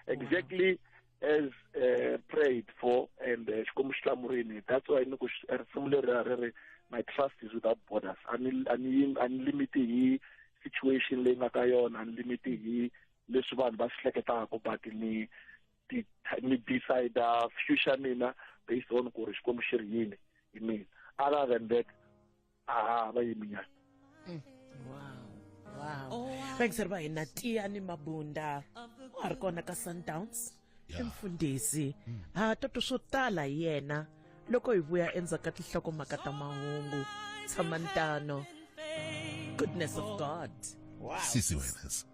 exactly wow. as uh, prayed for and eh, xikwembu xi hlamurini that's why ni ku risimu leri ra ri ri my trust is without borders a ni limiti hi situation leyi nga ka yona a ni limiti hi leswi vanhu va swi hleketaka but ni ni decide future mina based on ku ri xikwembu xi ri yini hi mina other than that a va yiminyana mm. wow wow thanks ri va hina tiya ni mabunda wa ha ri kona ka sundowns i mfundhisi mm. ha toto swo tala hi yena loko hi vuya endzhaku ka tinhlokomhaka ta mahungu tshama ntano goodness of god wow. sisi wenas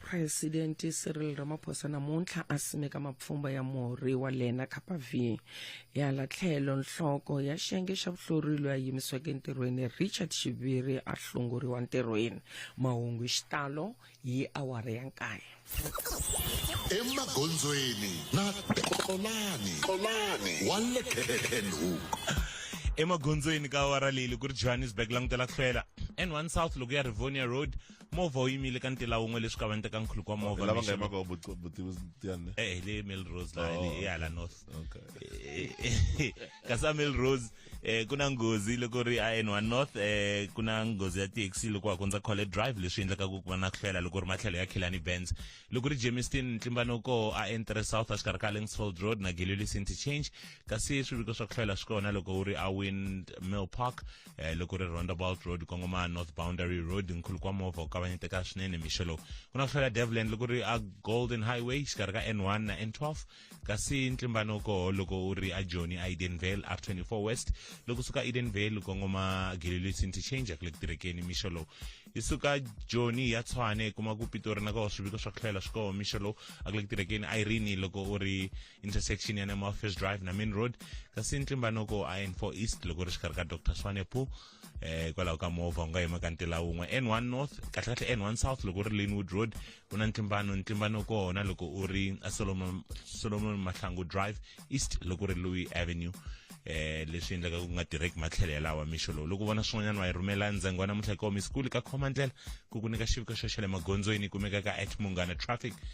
presidente cyril ramaphosa namuntlha a simeka mapfhumba ya murhi wa lena kappa v hala tlhelo nhloko ya xiyenge xa vuhlori loyi a yimisiweke entirhweni richard xiviri a hlongoriwa ntirhweni mahungu xitalo hi awara ya nkaye emagondzweni na tolani tolani wa le kenhook emagondzweni ka awara leyi ku ri johannesburg langutela ku hlwela n1 south loko ya rivonia road movha wu yimile ka ntila wun'we leswi kavanyetaka nkhuluko wa movha lava nga mixo- yimaka vuti- vutivi tiyani le eh le Melrose la Oh. le hala north okay kasi a Melrose eh kuna ngozi loko ri a N1 north eh kuna ngozi ya taxi loko wa kondza College Drive leswi endlaka ku va na ku hlwela loko ri matlhelo ya Khilani Benz loko ri Jamestown ntlimbano ko a N3 south a xikarhi ka Langsfield Road na Gillilis interchange kasi swiviko swa ku hlwela swi kona loko wu ri a Windmill Park eh, loko ri roundabout road kongoma north boundary road nkhuluko wa movha wu kavanyeteka swinene mixo lowu ku na ku hlwela devland loko ri a golden highway xikarhi ka n1 na n12 kasi ntlimbano koho loko u ri a joni a edenvale r24 west loko suka edenvale kongoma gililisi interchange ku le ku tirekeni mixo lowu yi suka joni ya tshwane kuma ku pitori na koho swiviko swa ku hlwela swi koho mixo lowu a ku le ku tirekeni irene loko u ri intersection ya nema office drive na main road kasi ntlimba noko a n4 east loko ri xikarhi ka dr swanepo eh hikwalaho ka movha u nga yima ka ntila wun'we n1 north kahlekahle n1 south loko ri linwood road ku na ntlimbano ntlimbano kona loko u ri solomon solomon mahlangu drive east loko ri louis avenue eh leswi endlaka ku nga tirheki matlhelo yalawa mixo lowu loko vona swin'wanyana wa yi rhumela ndzengo wa namuntlha hi koho misikulu ka khoma ndlela ku ku nyika xiviko xo xa le magondzweni kumekaka at munghana traffic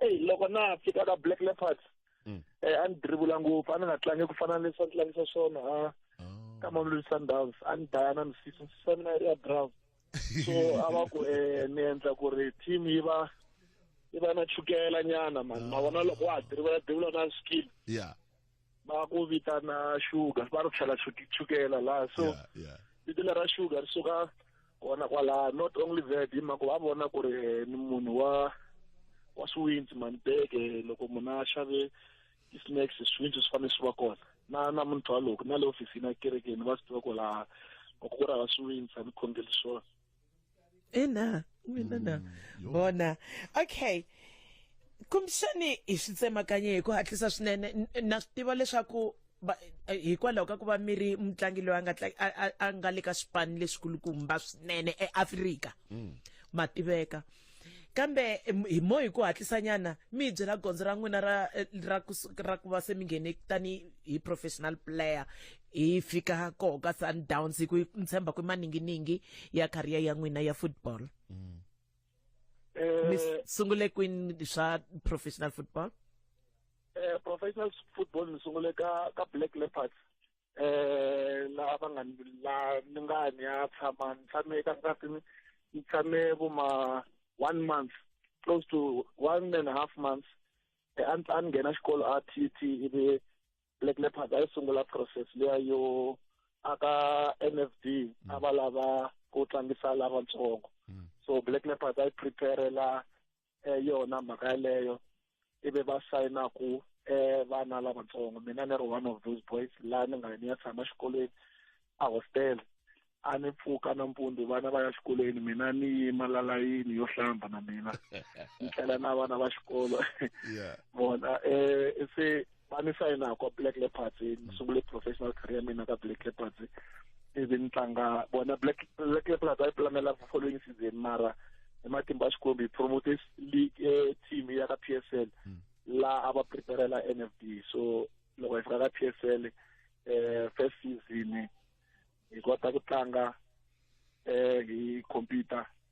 eyi loko na fika ka black leopards mm. eh, a ni dribula ngopfu a ni nga tlangi ku fana na leswi a ni tlangisa swona ha oh. ka mamelodi sundowns a ni daya na misisi misisi ya mina yi ri ya brown so a va ku um ni endla ku ri team yi va yi va na chukela nyana mani ma vona loko wa ha dirivela dirivela na skill yeah va ku vitana sugar va ri tlhela chukela laha so vito lera sugar ri suka kona kwalaha not only that hi mhaka va vona ku ri eh, ni munhu wa wa swiwintsi manibeke loko munhu a xave i-snacks swiwintsi swi fanele swi va kona na na munhu twa loko na le ofisini ya kerekeni va swi tiva ku laha loko ku ri hava swiwintsi a ni khongeli swona ina mina na Mm, vona okay kumbexani hi swi tsemakanye hi ku hatlisa swinene N- na swi tiva leswaku va- eh, hikwalaho ka ku va mi ri mutlangi loyi a nga tla- a- a- a nga le ka swipanu leswikulukumba swinene eafrika ma tiveka kambe em, hi mo hi ku hatlisanyana mi hi byela gondzo ra n'wina ra eh, ra ku su- ra ku va se mi nghene tani hi professional player hi fika koho ka sundowns hi ku hi tshemba ku i maninginingi ya career ya n'wina ya football mi Eh, s- sungule kwini swa professional football eh, professional football ni sungule ka ka black leopards eh la va nga la ni nga ni ya tshama ni tshame eka nsati ni tshame vo ma one month close to one and a half months eh, a a ni nghena xikolo a t t ivi black leopard a yi sungula process leya yo aka n f d mm. a va lava ku tlangisa lavatsongo mm. so black leopard a yi preparela eh, yona mhaka yaleyo ivi va sayina ku eh, vana lavatsongo mina ni ri one of those boys laha ni nga ni ya tshama xikolweni a hostel a ni pfuka nampundzu vana va ya xikolweni mina ni yima lalayini yo hlamba na mina ni tlhela na vana va xikolo vona um se va ni sayina kwa black leopards ni mm. sungule professional career ya mina ka black leopards ivi ni tlanga bona black black leopards a yi pulamela following season mara hi matimba xikombi promote league eh, team ya ka p s l mm. laha a va preparela n f d so loko hi fika ka p s l eh first season hi kota ku tlanga eh hi computer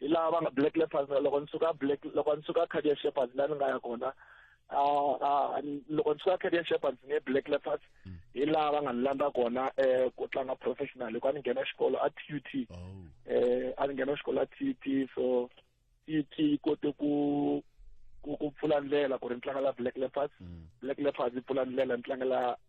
hi laha va nga black leopards loko ni suka black loko ni suka cardiac shepherds la ni nga ya kona Ah, ah, loko ndzi ka career shepherds ne black leopards mm. hi laha va nga ni landza kona um ku tlanga professional hikuva ni nghena xikolo a t u t um a ni nghena xikolo a t u t so t u t yi kote ku ku ku pfula ndlela ku ri ni tlangela black leopards mm. black leopards yi pfula ndlela ni tlangela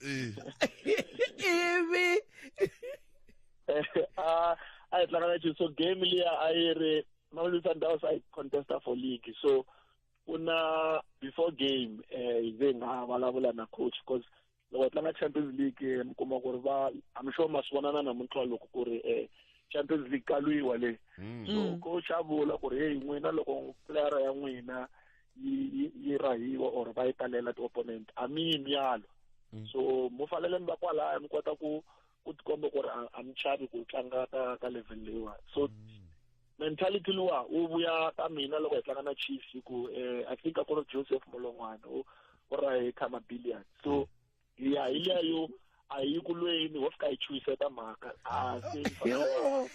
Eh. ivi a a hi tlanga na Chiefs so game liya a yi ri Mamelodi Sundowns a yi contesta for league so ku na before game eh hi ze nga vulavula na coach because loko hi tlanga Champions League eh, mi kuma ku ri va I'm sure ma swi vonana namuntlha loko ku ri eh Champions League ka lwiwa le so coach a vula ku ri hey n'wina loko player ya n'wina yi rahiwa or va yi talela ti-opponent a mi yi myalo mm. so mo fanele mi va kwalaya mi kota ku ku tikomba ku ri a mi chavi ku tlanga ka ka level leyiwani so mm. mentality luwa wu vuya ka mina loko hi tlanga na chiefs hi ku um i think a ku ri joseph molongwana u ra hi khama billion so mm. ya hi liya yo a hi yi kulweni wo fika hi chuhiseta mhaka a se Yo,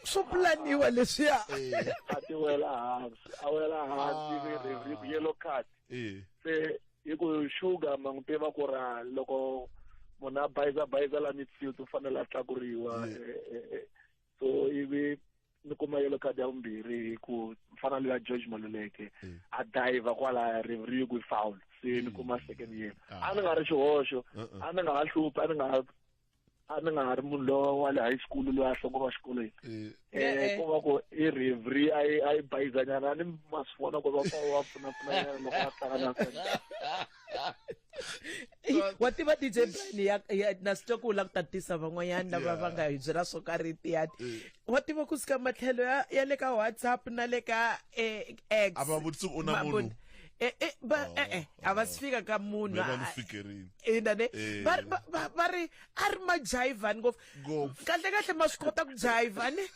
swo pulaniwa leswiya Eh, a ti wela hansi a wela hansi Ah. ri- ri- ri- yellow card eh. se hi ku sugar ma n'wi tiva ku ra loko munhu a bayiza bayiza la midfield u fanele a tlakuriwa Yeah. eh, eh, eh. so ivi ni kuma yellow card ya vumbirhi hi ku mfana loyi ya george maluleke mm. a diver kwalaya riveri yi ku foul se ni mm. kuma second year ah. a ni nga ri xihoxo uh-uh. a ni nga ha hluphi a ni nga a ni nga ha ri munhu lowa wa le high school loyi a hloko va xikolweni um ku va ku i riveri a yi a yi bayizanyana a ni masifona ku va va pfunapfunanyana loko a hlangana wa tiva dj plan ya, ya na swi twa ku la ku tatisa van'wanyana lava va nga hi byela swo karhi tiyati eh. wa tiva ku suka matlhelo ya, ya le ka whatsapp na le ka eh, x a va vutisi u na munhu eh, eh, ba, oh, eh, eh, a va oh. si fika ka munhu ina ne eh. va ri a ri ma jayivhani ngopfu kahlekahle ma swi kota ku jayivha ne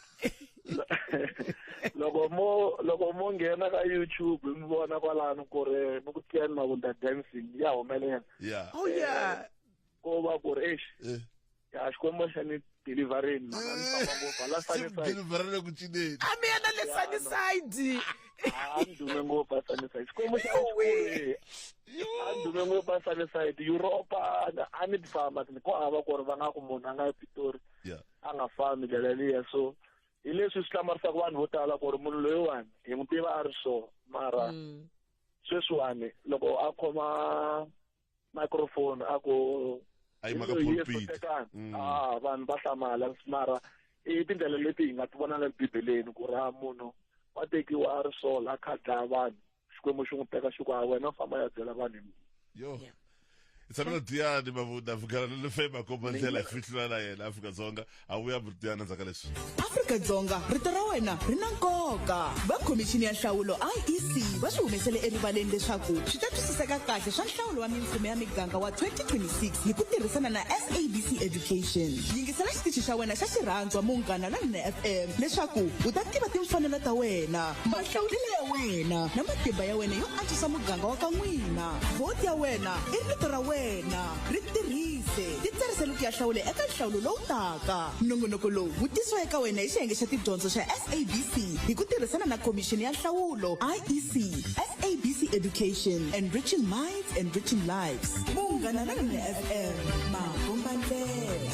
loko mo loko mo nghena ka youtube mi vona kwalano ku ri mi ku tliyani mavunda dancing ya humelela yeah oh yeah ko va ku ri exi eh. ya xikwembu xa ni deliverini mhaka ni famba ngopfu hala saniside deliverele ku cineni a mi yena le saniside andume ngopfu asaniside xikwembu xa xikulu andume ngopfu asaniside europa a ni ti famba ko hava ku ri va nga ku munhu a nga epitori a nga fambi ndlela liya so hi leswi swi hlamarisaka vanhu vo tala ku ri munhu loyiwani hi n'wi tiva a ri so mara mm. sweswiwani loko a khoma microphone a ku ayi maka pulpit mm. ah vanhu va hlamala mara i tindlela leti hi nga ti vona le bibeleni ku ri a munhu wa tekiwa a ri so la khadlaya vanhu xikwembu xi n'wi teka xi ku a wena famba ya byela vanhu hi mina yo Yeah. hi tshamela diyani mavunda vukala le lefema komba ndlela hi fihlula na yena afrika dzonga a vuya diyani ndzaka leswi afrika-dzonga rito ra wena ri na nkoka va khomixini ya nhlawulo iec va swi humesele erivaleni leswaku swi ta twisiseka kahle swa nhlawulo wa mimfumo ya miganga wa 2026 hi ku tirhisana na sabc education yingisela xitichi xa wena xa xirhandzwa munghana lonene fm leswaku u ta tiva timfanelo ta wena mahlawulelo ya wena na matimba ya wena yo antswisa muganga wa ka n'wina vhoti ya wena i rito ra wena ri tirhise ti tsarisele ku ya hlawula eka nhlawulo lowu taka nongonoko lowu wu tisiwa eka wena hi xiyenge xa tidyondzo xa sabc hi ku tirhisana na khomixini ya nhlawulo iec sabc education enriching minds enriching lives munghana lonene fm makombandlela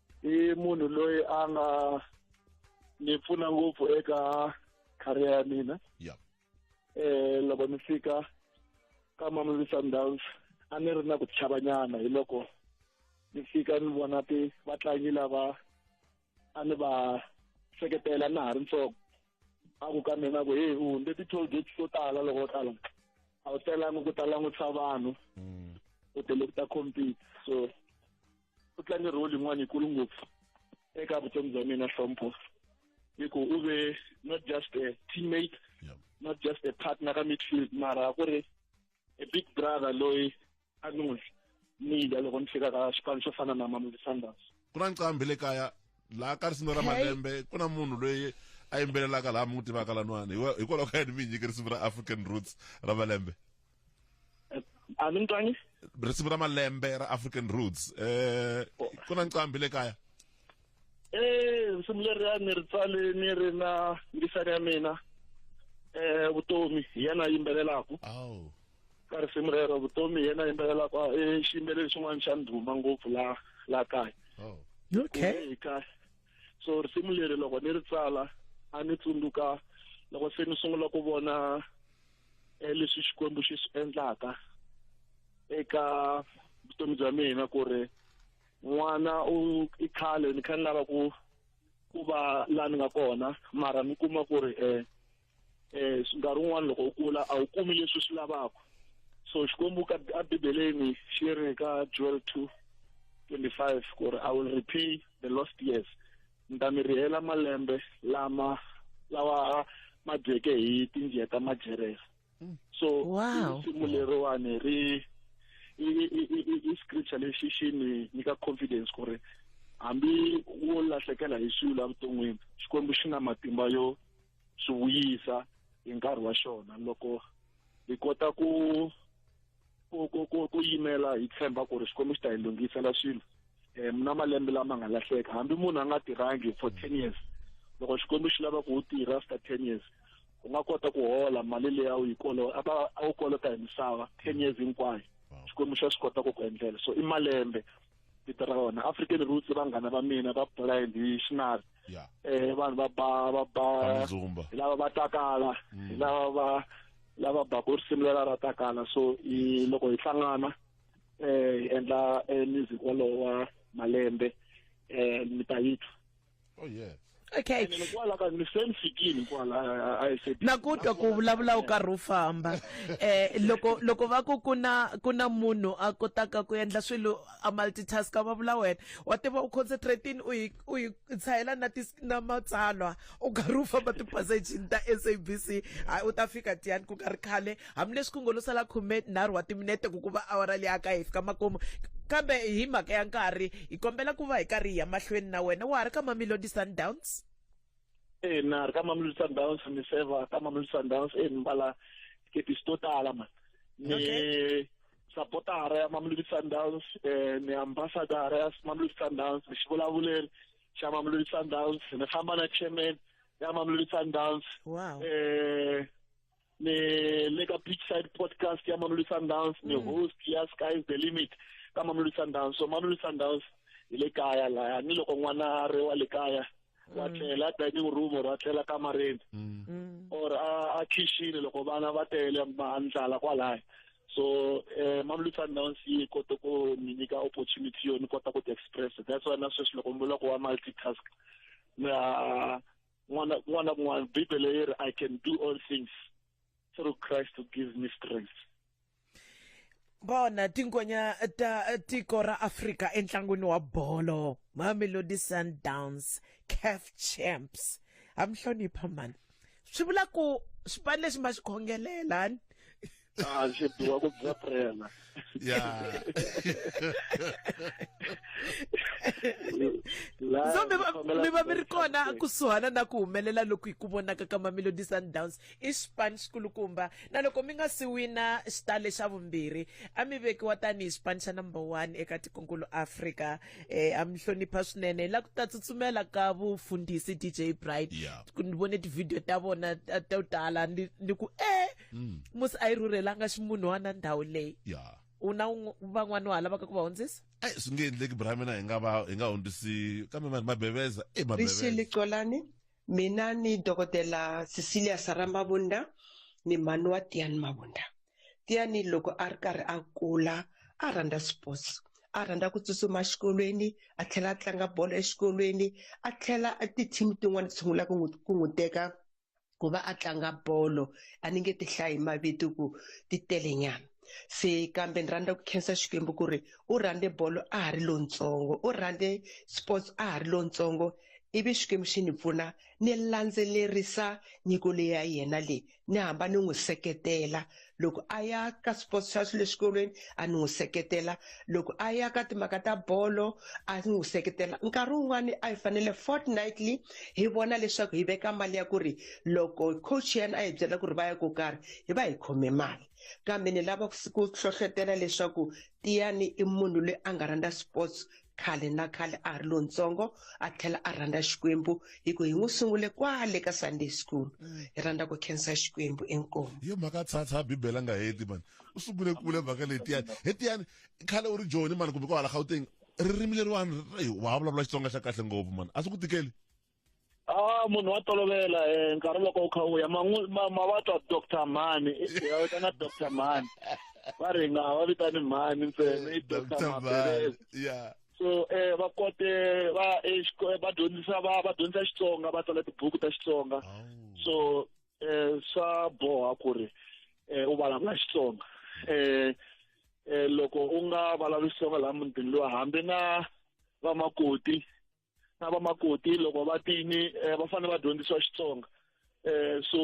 i munhu loyi a nga ni pfuna ngopfu eka career ya mina yeah. eh loko ni fika ka Mamelodi Sundowns a ni ri na ku chavanyana hi loko ni fika ni vona ti vatlangi lava a ni va seketela na ha ri ntsongo a ku ka mina ku heyi u hundze ti-toll gates to tala loko u tala a wu telangi ku ta langutisa vanhu mm. u tele ku ta compete so u tlange role yin'wana yikulu ngopfu eka vutomi bya mina hlompho hi ku u ve not just a teammate yeah. not just a partner ka midfield mara ku ri a big brother loyi a ni n'wi nida loko ni fika ka xipano xo fana na mamelodi sundowns ku na nqambi le kaya laha ka risimi ra malembe ku na munhu loyi a yimbelelaka laha mi n'wi tivaka lan'wana hikwalaho ka yini mi hi nyike risimu ra african roots ra malembe a mi ni twangi risimu ra malembe ra african roots eh ku na nqambi le kaya eh risimu leri a ni ri tsale ni ri na ngisani ya mina eh vutomi hi yena yimbelelaku aw ka risimu rero vutomi hi yena yimbelelaku ah, eh xiyimbeleli xin'wana xa ndhuma ngopfu la la kaya oh okay Hi kahle so risimu leri loko ni ri tsala a ni tsundzuka loko se ni sungula ku vona eh, leswi xikwembu xi swi endlaka eka vutomi bya mina ku ri n'wana u i khale ni kha ni lava ku ku va la ni nga kona mara mi kuma ku ri um um nkarhi wun'wana loko u kula a wu kumi leswi swi lavaka so xikwembu ka a bibeleni xi ri ka joel two twenty five ku ri i will repay the lost years ni ta mi rihela malembe lama lawa ma dyeke hi tinjiya ta majeresa mm. so wow. risimu leriwani ri i scripture lexi xi ni nyika confidence ku ri hambi wo lahlekela hi swilo evuton'wini xikwembu xi na matimba yo swi vuyisa hi nkarhi wa xona loko hi kota ku ku ku ku ku yimela hi tshemba ku ri xikwembu xi ta hi lunghisela swilo um na malembe lama nga lahleka hambi munhu a nga tirhangi for ten years loko xikwembu xi lava ku u tirha after ten years u nga kota ku hola mali leyi a wu yi kolo a va a wu kolota hi misava ten years hinkwayo xikwembu xa swi kota ku ku endlela so i malembe vito ra wona african roots vanghana va mina va blind hi xinari yeah. eh vanhu va ba va ba Kamzumba. hi lava va takala hi lava va lava baku risimu lela ra takala so i loko hi hlangana eh hi endla eh, music wolowo wa malembe eh mi ta yi twa oh yeah okay na ku twa ku vulavula u karhi u famba eh loko loko va ku ku na ku na munhu a kotaka ku endla swilo a multitask va vula wena wa tiva u concentrating u yi u yi tshayela na ti na matsalwa u karhi u famba tipassage ta SABC hayi u ta fika tiyani ku karhi khale hambileswi ku ngo lo sala khumenharhu wa timinete ku ku va awara leyi aka hi fika makumu kambe hi mhaka ya nkarhi hi kombela ku va hi karhi hi ya mahlweni na wena wa ha ri ka mamelodi sundowns e na ri ka mamelodi sundowns ni seva ka mamelodi sundowns e ni mbala tikepisi to tala mani ni okay sapotara ya Mamelodi Sundowns eh ni ambassador ya Mamelodi Sundowns ni xivulavuleri xa Mamelodi Sundowns ni famba na chairman ya Mamelodi Sundowns wow. eh ni le ka beachside podcast ya mamelodi sundowns ni mm. host ya sky's the limit ka mamelodi sundowns so mamelodi sundowns hi le kaya laya ni loko n'wana a ri wa le kaya wa mm. tlela dining room or a tlela kamareni mm. or a khixini loko vana va tele ndlala kwalaya so um mamelodi sundowns yi kote ku ni nyika opportunity yo ni kota ku ti express that's why na sweswi loko ni vula ku wa multitask na n'wana kun'wana na kun'wana bibele yi ri i can do all things through christ who gives me strength bona tingonya ta tiko ra afrika entlangwini wa bolo mamelodi sundowns caf champs ha mi hlonipha mani swi vula ku xipani lexi ma xi khongelelani Ah, je dois ku bya prela. Yeah. so mi va mi ri kona kusuhana na ku humelela loku hi ku vonaka ka mamelodi sundowns i xipani xikulukumba na loko mi nga si wina xitale xa vumbirhi a mi vekiwa tanihi xipani xa number one eka tikonkulu africa um a mi hlonipha swinene la ku ta tsutsumela ka vufundhisi dj bright ni vone tivhidiyo ta vona to tala ni ku e mm. musi a yi rhurhelanga ximunhwana ndhawu leyi yeah. u na van'wana wa ha lavaka ku va hundzisa eyi swi nge endleki bra mina hi nga va hi nga hundzisi kambe vanhu mabeveza e eh, mabevexili colani mina ni dokodela cecilia sara mavunda ni mhani wa tiyani mavunda tiyani loko a ri karhi a kula a rhandza sports a rhandza ku tsutsuma exikolweni a tlhela a tlanga bolo exikolweni a tlhela ti-team tin'wana ti sungula ku n'wi teka ku va a tlanga bolo a ni nge ti hlayi mavito ku ti tele nyana se kambe ni rhandza ku khensa xikwembu ku ri u rhandze bolo a ha ri lontsongo u rhandze sports a ha ri lontsongo ivi xikwembu xi ni pfuna ni landzelerisa nyiko leyi ya yena leyi ni hamba ni n'wi seketela loko a ya ka sports xa swi le xikolweni a ni n'wi seketela loko a ya ka timhaka ta bolo a ni n'wi seketela nkarhi wun'wani a hi fanele fortnightly hi vona leswaku hi veka mali ya ku ri loko coach yena a hi byela ku ri va ya ko karhi hi va hi khome mali kambe ni lava ku hlohlotela leswaku tiyani i munhu loyi a nga rhandza sports khale na khale a ha ri lontsongo a tlhela a rhandza xikwembu hi ku hi n'wi sungule kwale ka sunday school mm. hi rhandza ku khensa xikwembu enkomo yo mhaka tshwatsha bibele a nga heti mani u sungule kule mhaka letiyani hetiyani khale u ri joni mani kumbe ko hala gauteng ririmi leriwani wa vulavula xitsonga xa kahle ngopfu mani a swi ku tikeli Ah munhu wa tolovela eh nkarhi loko u kha u ya mavabyi wa Dr Mani ya vitana Dr Mani va ri nga va vitani Mani ntsena i Dr Mani yeah so eh va kote va va dyondzisa va va dyondzisa Xitsonga va tsala tibuku ta Xitsonga so eh swa boha ku ri eh u vulavula Xitsonga eh eh loko u nga vulavuli Xitsonga la mutini lowa hambi na vamakoti na vamakoti loko va tini eh, va fanele va dyondzisiwa xitsonga um so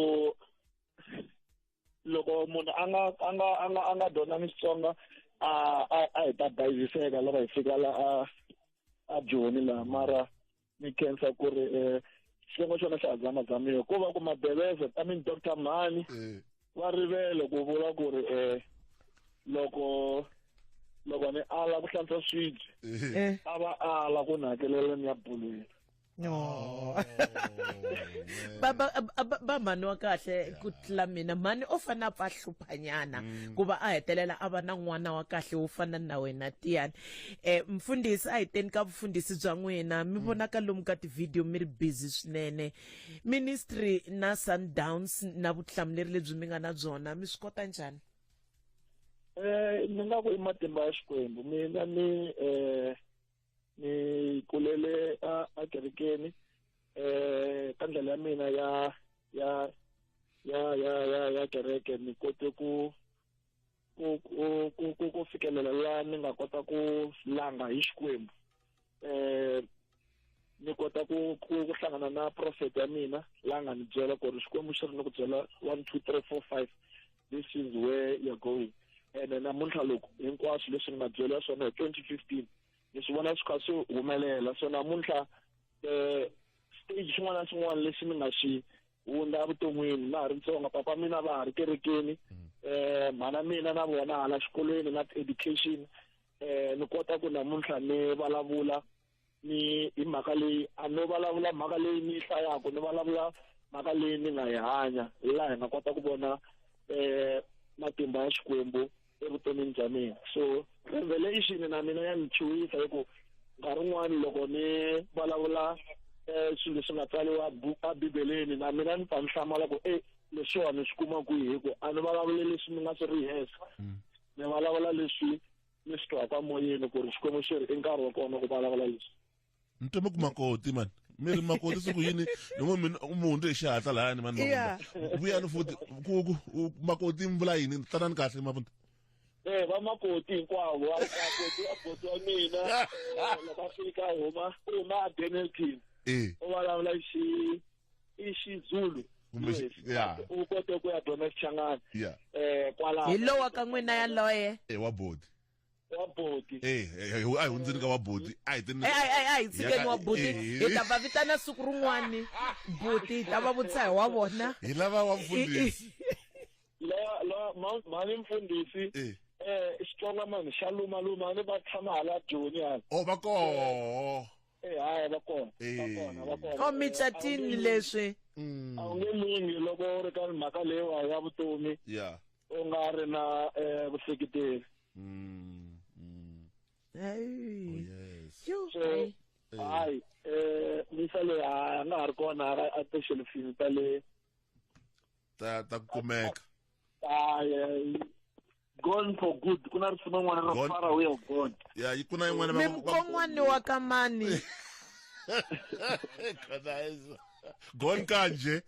loko munhu a nga a nga a nga a nga dyondzangi xitsonga a a a hi ta bayiziseka loko hi fika la a a joni laha mara ni khensa ku ri um xitsongo xona xa ha zamazamiwa ko va ku mabeleza i mean doctor mhani eh. va rivele ku vula ku ri um loko loko ni ala ku hlantswa swibye eh. a va ala ku ni hakelela ni ya bulweni Oh, ba ba ba mhani wa kahle ku tlula mina mhani o fane a pfa hluphanyana mm. ku va a hetelela a va na n'wana wa kahle wo fana na wena tiyani um mfundhisi a hi teni ka vufundhisi bya n'wina mi mm. vonaka lomu ka tivhidiyo mi ri busy swinene ministry na sundowns na vutihlamuleri lebyi mi nga na byona mi swi kota njhani eh ni nga ku i matimba ya xikwembu mina ni eh ni kulele a kerekeni eh ka ndlela ya mina ya ya ya ya ya ya kereke ni kote ku ku ku ku ku ku fikelela la ni nga kota ku langa hi xikwembu eh ni kota ku ku ku hlangana na prophet ya mina la nga ni byela ku ri xikwembu xi ri ni ku byela one two three four five this is where you're going and then namuntlha loko hinkwaswo leswi ni nga byela swona hi twenty fifteen ni swi vona swi kha swi humelela so namuntlha um stage xin'wana na xin'wana lexi ni nga xi hundza evuton'wini na ha ri ntsongo papa mina va ha ri kerekeni um mhana mina na vona hala xikolweni na ti-education um ni kota ku namuntlha ni vulavula ni hi mhaka leyi a no vulavula mhaka leyi ni yi hlayaka ni vulavula mhaka leyi ni nga yi hanya hi laha hi nga kota ku vona um matimba ya xikwembu evuton'wini bya mina so revelation na mina ya ni chuwisa hi ku nkarhi wun'wani loko ni vulavula um swilo leswi nga tsariwa abibeleni na mina ni ta ni hlamala ku e leswiwani swi kuma kwihi hi ku a ni vulavule leswi ni nga swi rihesa mm. ni vulavula leswi ni swi twaka moyeni ku ri xikwembu xi ri i nkarhi wa kona ku vulavula leswi ni teme ku makoti mani mi ri makoti siku yini yin'we mi mi hundze hi xihatla layani mani Yeah. Mavunda. vuyani futi ku ku u- makoti mi vula yini tanani kahle mavunda Eh va makoti hinkwavo va makoti va makoti wa mina eh, loko a fika a huma u huma a Benelton e u vulavula xi i xizulu Kumbe xi- Yes. yeah. u kote ku ya dyondza xichangani Yeah. eh kwalaho hi lowa ka n'wina yaloye e wa bodi wa boti eh, eh, eh a hi hundzini ka wa boti a hi tini a hi tshikeni wa boti eh. hi ta va vitana siku rin'wani boti hi ta va vutisa hi wa vona hi lava wa mfundhisi la la mhani mfundhisi eh xitsonga mani xa luma luma ni va tshama hala joni yani o oh, va koho eh haya va kona va kona va kona o micatini leswi mm. a wu nge lunghi loko u ri ka mhaka leyiwa ya vutomi ya u nga ri na eh, vuseketeri Mm, mm. Hey. Oh, yes. Yo, so hey. hayi um misa leyi a nga ha ri kona a- a tishelufini ta le ta ta ku kumeka hayi gone for good ku na risima n'wana ra Gone. fara way of gone ya yi ku na yin'wana Me va- va- mkon'wani wa ka mani Khadayiza. gone kanje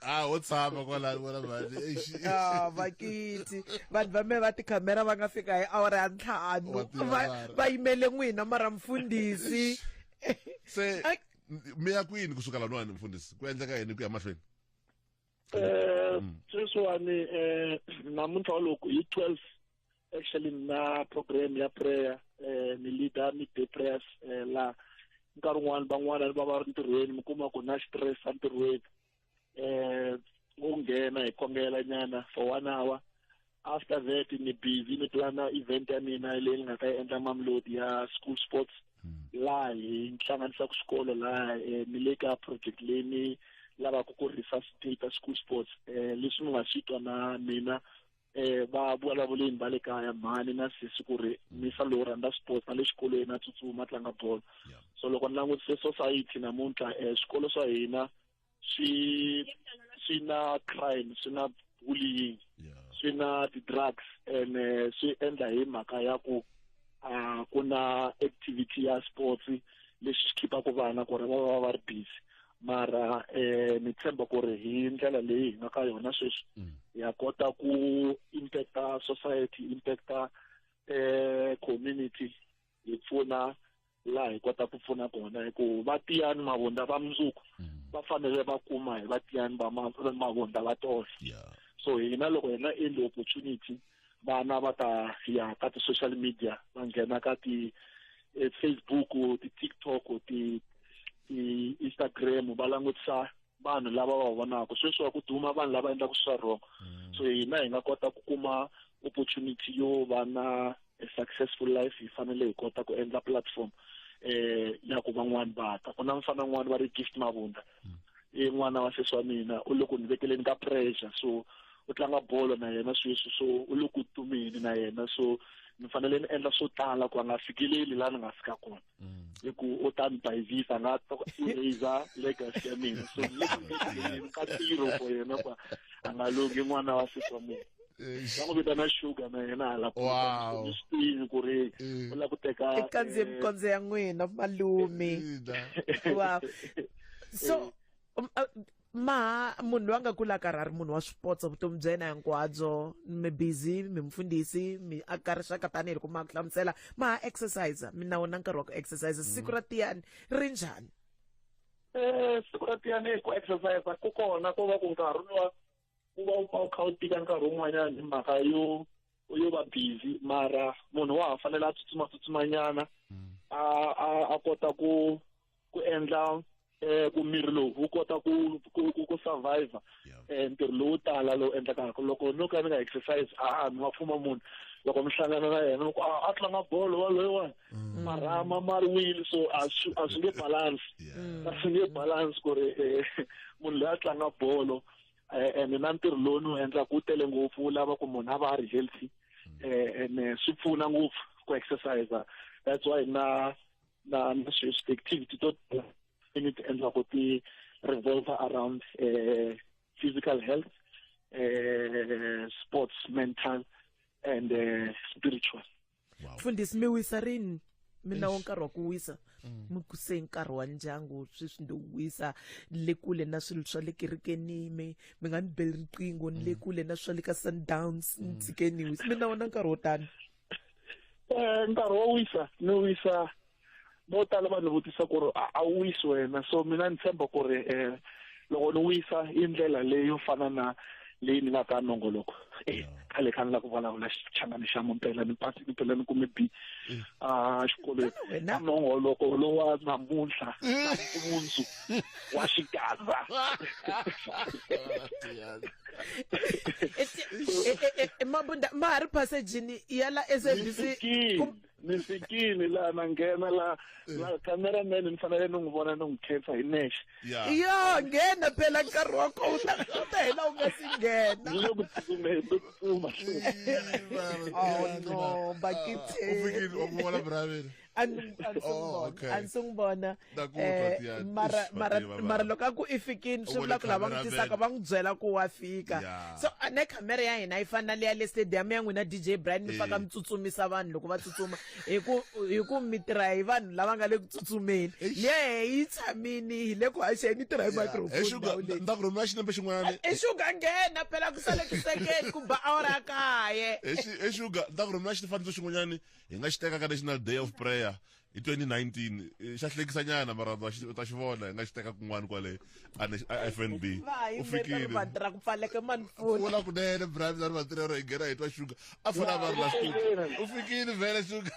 a ho tshama kwalani wena mhani a vakiti vanhu va me va tikhamera va nga fika hi awara ya ntlhanu Wa tiva va mara. va yimele n'wina mara mfundhisi se Ai. mi ya kwini kusuka lanwani mfundhisi ku endleka yini ku ya mahlweni Eh, sweswiwani eh, namuntlha wa loko hi 12 actually na program ya prayer eh ni leader mi day prayers eh, la nkarhi wun'wana van'wana ni va va ri ntirhweni mi kuma ku na stress a ntirhweni eh wo nghena hi kombela nyana for one hour after that ni busy ni plana event ya mina leyi ni nga ta yi endla mamlodi ya school sports hmm. laha hi ni hlanganisaka xikolo laha eh, ni le ka project leyi ni lavaka ku resuscitate school sports um leswi mi nga swi twa na mina eh va vulavuleni va le kaya mhani na sisi ku ri misa lowu rhandza sports na le xikolweni a tsutsuma tlanga bolo Yeah. so loko ni langutise society namuntlha eh swikolo swa hina swi swi na crime swi na bullying Yeah. swi na ti-drugs and eh, swi endla hi mhaka ya ku ah, ku na activity ya sports lexi xi khipaka vana ku ri va va va ri busy mara eh ni tshemba ku ri hi ndlela leyi hi nga ka yona sweswi mm. ya kota ku impacta society impacta eh community hi pfuna laha hi kota ku pfuna kona hi ku vatiyani mavonda va mundzuku mm. va fanele va kuma hi vatiyani va mavonda va tona so hina loko hi nga endli opportunity vana va ta ya ka ti-social media va nghena ka ti eh, facebook ti-tiktok ti ti-instagram va langutisa vanhu lava va vonaka sweswi wa ku duma vanhu lava endlaka swa wrong mm. so hina hi nga kota ku kuma opportunity yo va na a successful life hi fanele hi kota ku endla platform eh ya ku van'wani va ta ku na mfana n'wani va ri gift mavunda i n'wana wa sesi wa mina u le ku ni vekeleni ka pressure so u tlanga bolo na yena sweswi so u le ku tumeni na yena so ni fanele ni endla swo tala ku a nga fikeleli laha ni nga fika kona mm. hi ku u ta ni bayivisa nga eraser legacy ya mina so ni ka tiro for yena ku a nga longi n'wana wa sesi wa mina va n'wi vitana sugar na yena hala wow. swi tivi ku ri u lava ku teka ikandziye mikondzo ya n'wina malume wow so um, uh, ma munhu loyi a nga kula karhi a ri munhu wa swipotso vutomi bya yena hinkwabyo mi busy mi mfundhisi mi aka rixaka tanihi loko ma ku hlamusela ma ha exercise mi na wona nkarhi wa ku exercise mm. siku ra tiyani ri njhani um siku ra tiyani ku exercise ku kona ko va ku nkarhi lowa u va u pfa u kha u tika nkarhi wun'wanyana hi mhaka yo yo va busy mara munhu wa ha fanele a tsutsuma tsutsumanyana mm. a a a kota ku ku endla eh ku miri lowu wu kota ku ku ku survive eh ntirho lowu tala lowu endlekaka loko no ka ni nga exercise a a ni wa pfuma munhu loko mi hlangana na yena loko a tlanga bolo waloyo wani mm. marhama ma ri wile so a swi nge balance a swi nge balance ku ri eh, munhu loyi a tlanga bolo eh, and na ntirho lowu ni wu endlaka wu tele ngopfu wu lava ku munhu a va a ri healthy um and eh, swi pfuna ngopfu ku exercise that's why na na na activity to ni ti endlaka ti revolve around uh, physical health uh, sports mental and uh, spiritual wow. mfundhisi mi wisa rini mina wo nkarhi wa ku wisa mm. mi kuse nkarhi wa ndyangu sweswi ndi wisa ni le kule na swilo swa le kerekeni mi mi nga ni beli riqingho ni le mm. kule na swa le ka sundowns ni mm. tshike ni wisa mi na wona nkarhi wo tani um nkarhi wo wisa ni wisa vo tala vanhu vutisa ku ri a wu wisi wena so mina ni tshemba ku ri um loko ni wisa i ndlela leyi yo fana na leyi ni nga ka nongoloko e khale kha ni la ku vulavula xichangani xa mumpela ni pasi ni phela ni kume b mm. a ah, xikolweni nongoloko lowa namuntlha mm. mundzu wa xikaza e, e, e, mabunda ma ha ri passagini ya la sabc ni fikile laha na nghena la la cameraman ni fanele ni n'wi vona ni n'wi khetha hi nexe ya yo nghena phela nkarhi wa kona u ta u ta hela u nga si nghena ni le ku tsutsumeni ni ku tsuma oh no bakithe u fikile wa ku vona bravini a ni a ni Oh, sungubona okay. a ni sungubona mara loko a ku i fikini swi vula ku lava n'wi tisaka va n'wi byela ku wa fika so ne khamera ya hina yi fana na leya le stadium ya n'wina dj brian mi faka mi tsutsumisa vanhu loko va tsutsuma hi ku hi ku mi tirha hi vanhu lava nga le ku tsutsumeni lehe yi tshamini hi le ku haxeni yi tirha hi microphone nda ku rhumela xinepe xin'wana i xuga nghena phela ku sale tisekeni ku ba awara kaye i xuga nda ku rhumela xifaniso xin'wanyani hi nga xi teka ka national day of prayer hi 2019 eh, xa hlekisa nyana mara ta xi- ta xi vona hi nga xi teka kun'wana kwale a ne- a fnb u fikile vatirha ku pfaleke mani pfuna vula kunene brami lani vatirhero hi nghena hi twa shuga a fana a va ri la studio u fikile vhele shuga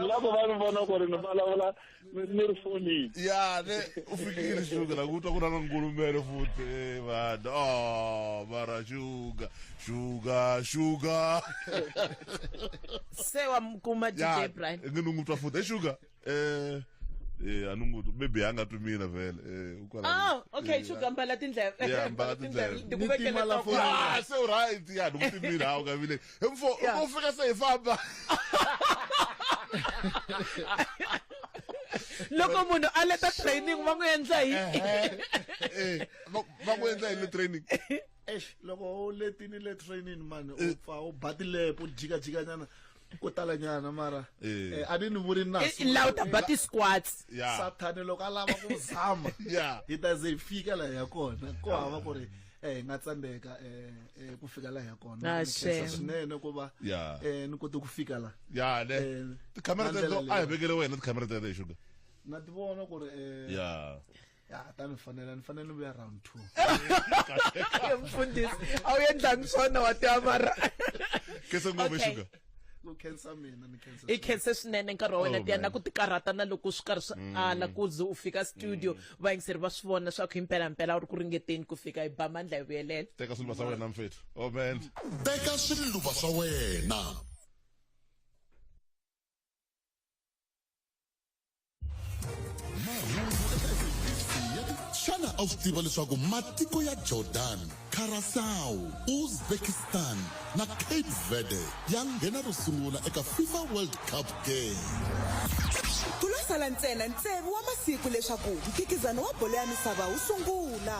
loko va ni vona ku ri ni vulavula ni- ni ri fonini ya ne u fikile shuga la kutwa ku na na ngulumele futhi eh, vanhu oh mara shuga shuga shuga se wamkuma dj ya brian ngi ni n'wi twa futhi e shuga eh eh a ni n'wi twa maybe a nga twi mina vhele eh u kwala oh okay shuga mbala tindleve Yeah, mbala tindleve. Ni tima la phone. Ah, se u right ya ni n'wi twi mina a wu nga vile Hi mfo, Yeah. u fika se hi famba. loko munhu a leta training va n'wi endla hi Eh, va va ku endla yini training? eish loko u letini le training mani u pfa u ba tilepo u jikajikanyana ko talanyana mara Eh. eh, a ni ni vuri na Eh, la u ta ba ti-squats Yeah. sathane loko a lava ku zama Yeah. hi ta ze hi fika laha ya kona ko hava ku ri eh hi nga tsandeka eh, eh ku fika la ya kona ah, swinene ku va eh ni kote ku fika la ya le eh, tikhamera teto a hi vekele wena tikhamera teto hi sugar na ti vona ku ri eh ya ya ta ni fanela ni fanele ni vuya round two mfundisi a wu endlangi swona wa ti amara kese ngome sugar ku khensa mina ni khensa i khense swinene nkarhi wa wena oh, tiya na ku tikarhata na loko swi karhi swi mm. ala ku ze u fika studio mm. vayingiseri va swi vona swa ku hi mpelampela u ri ku ringeteni ku fika hi ba mandla hi vuyelela teka swiluva swa wena mfethu amen oh, teka swiluva swa wena xana a wu swi tiva leswaku matiko ya jordan curacao uzbekistan na cape verde ya nghena ro sungula eka fifa world cup game ku lo sala ntsena ntsevu wa masiku leswaku mphikizano wa bolo ya misava wu sungula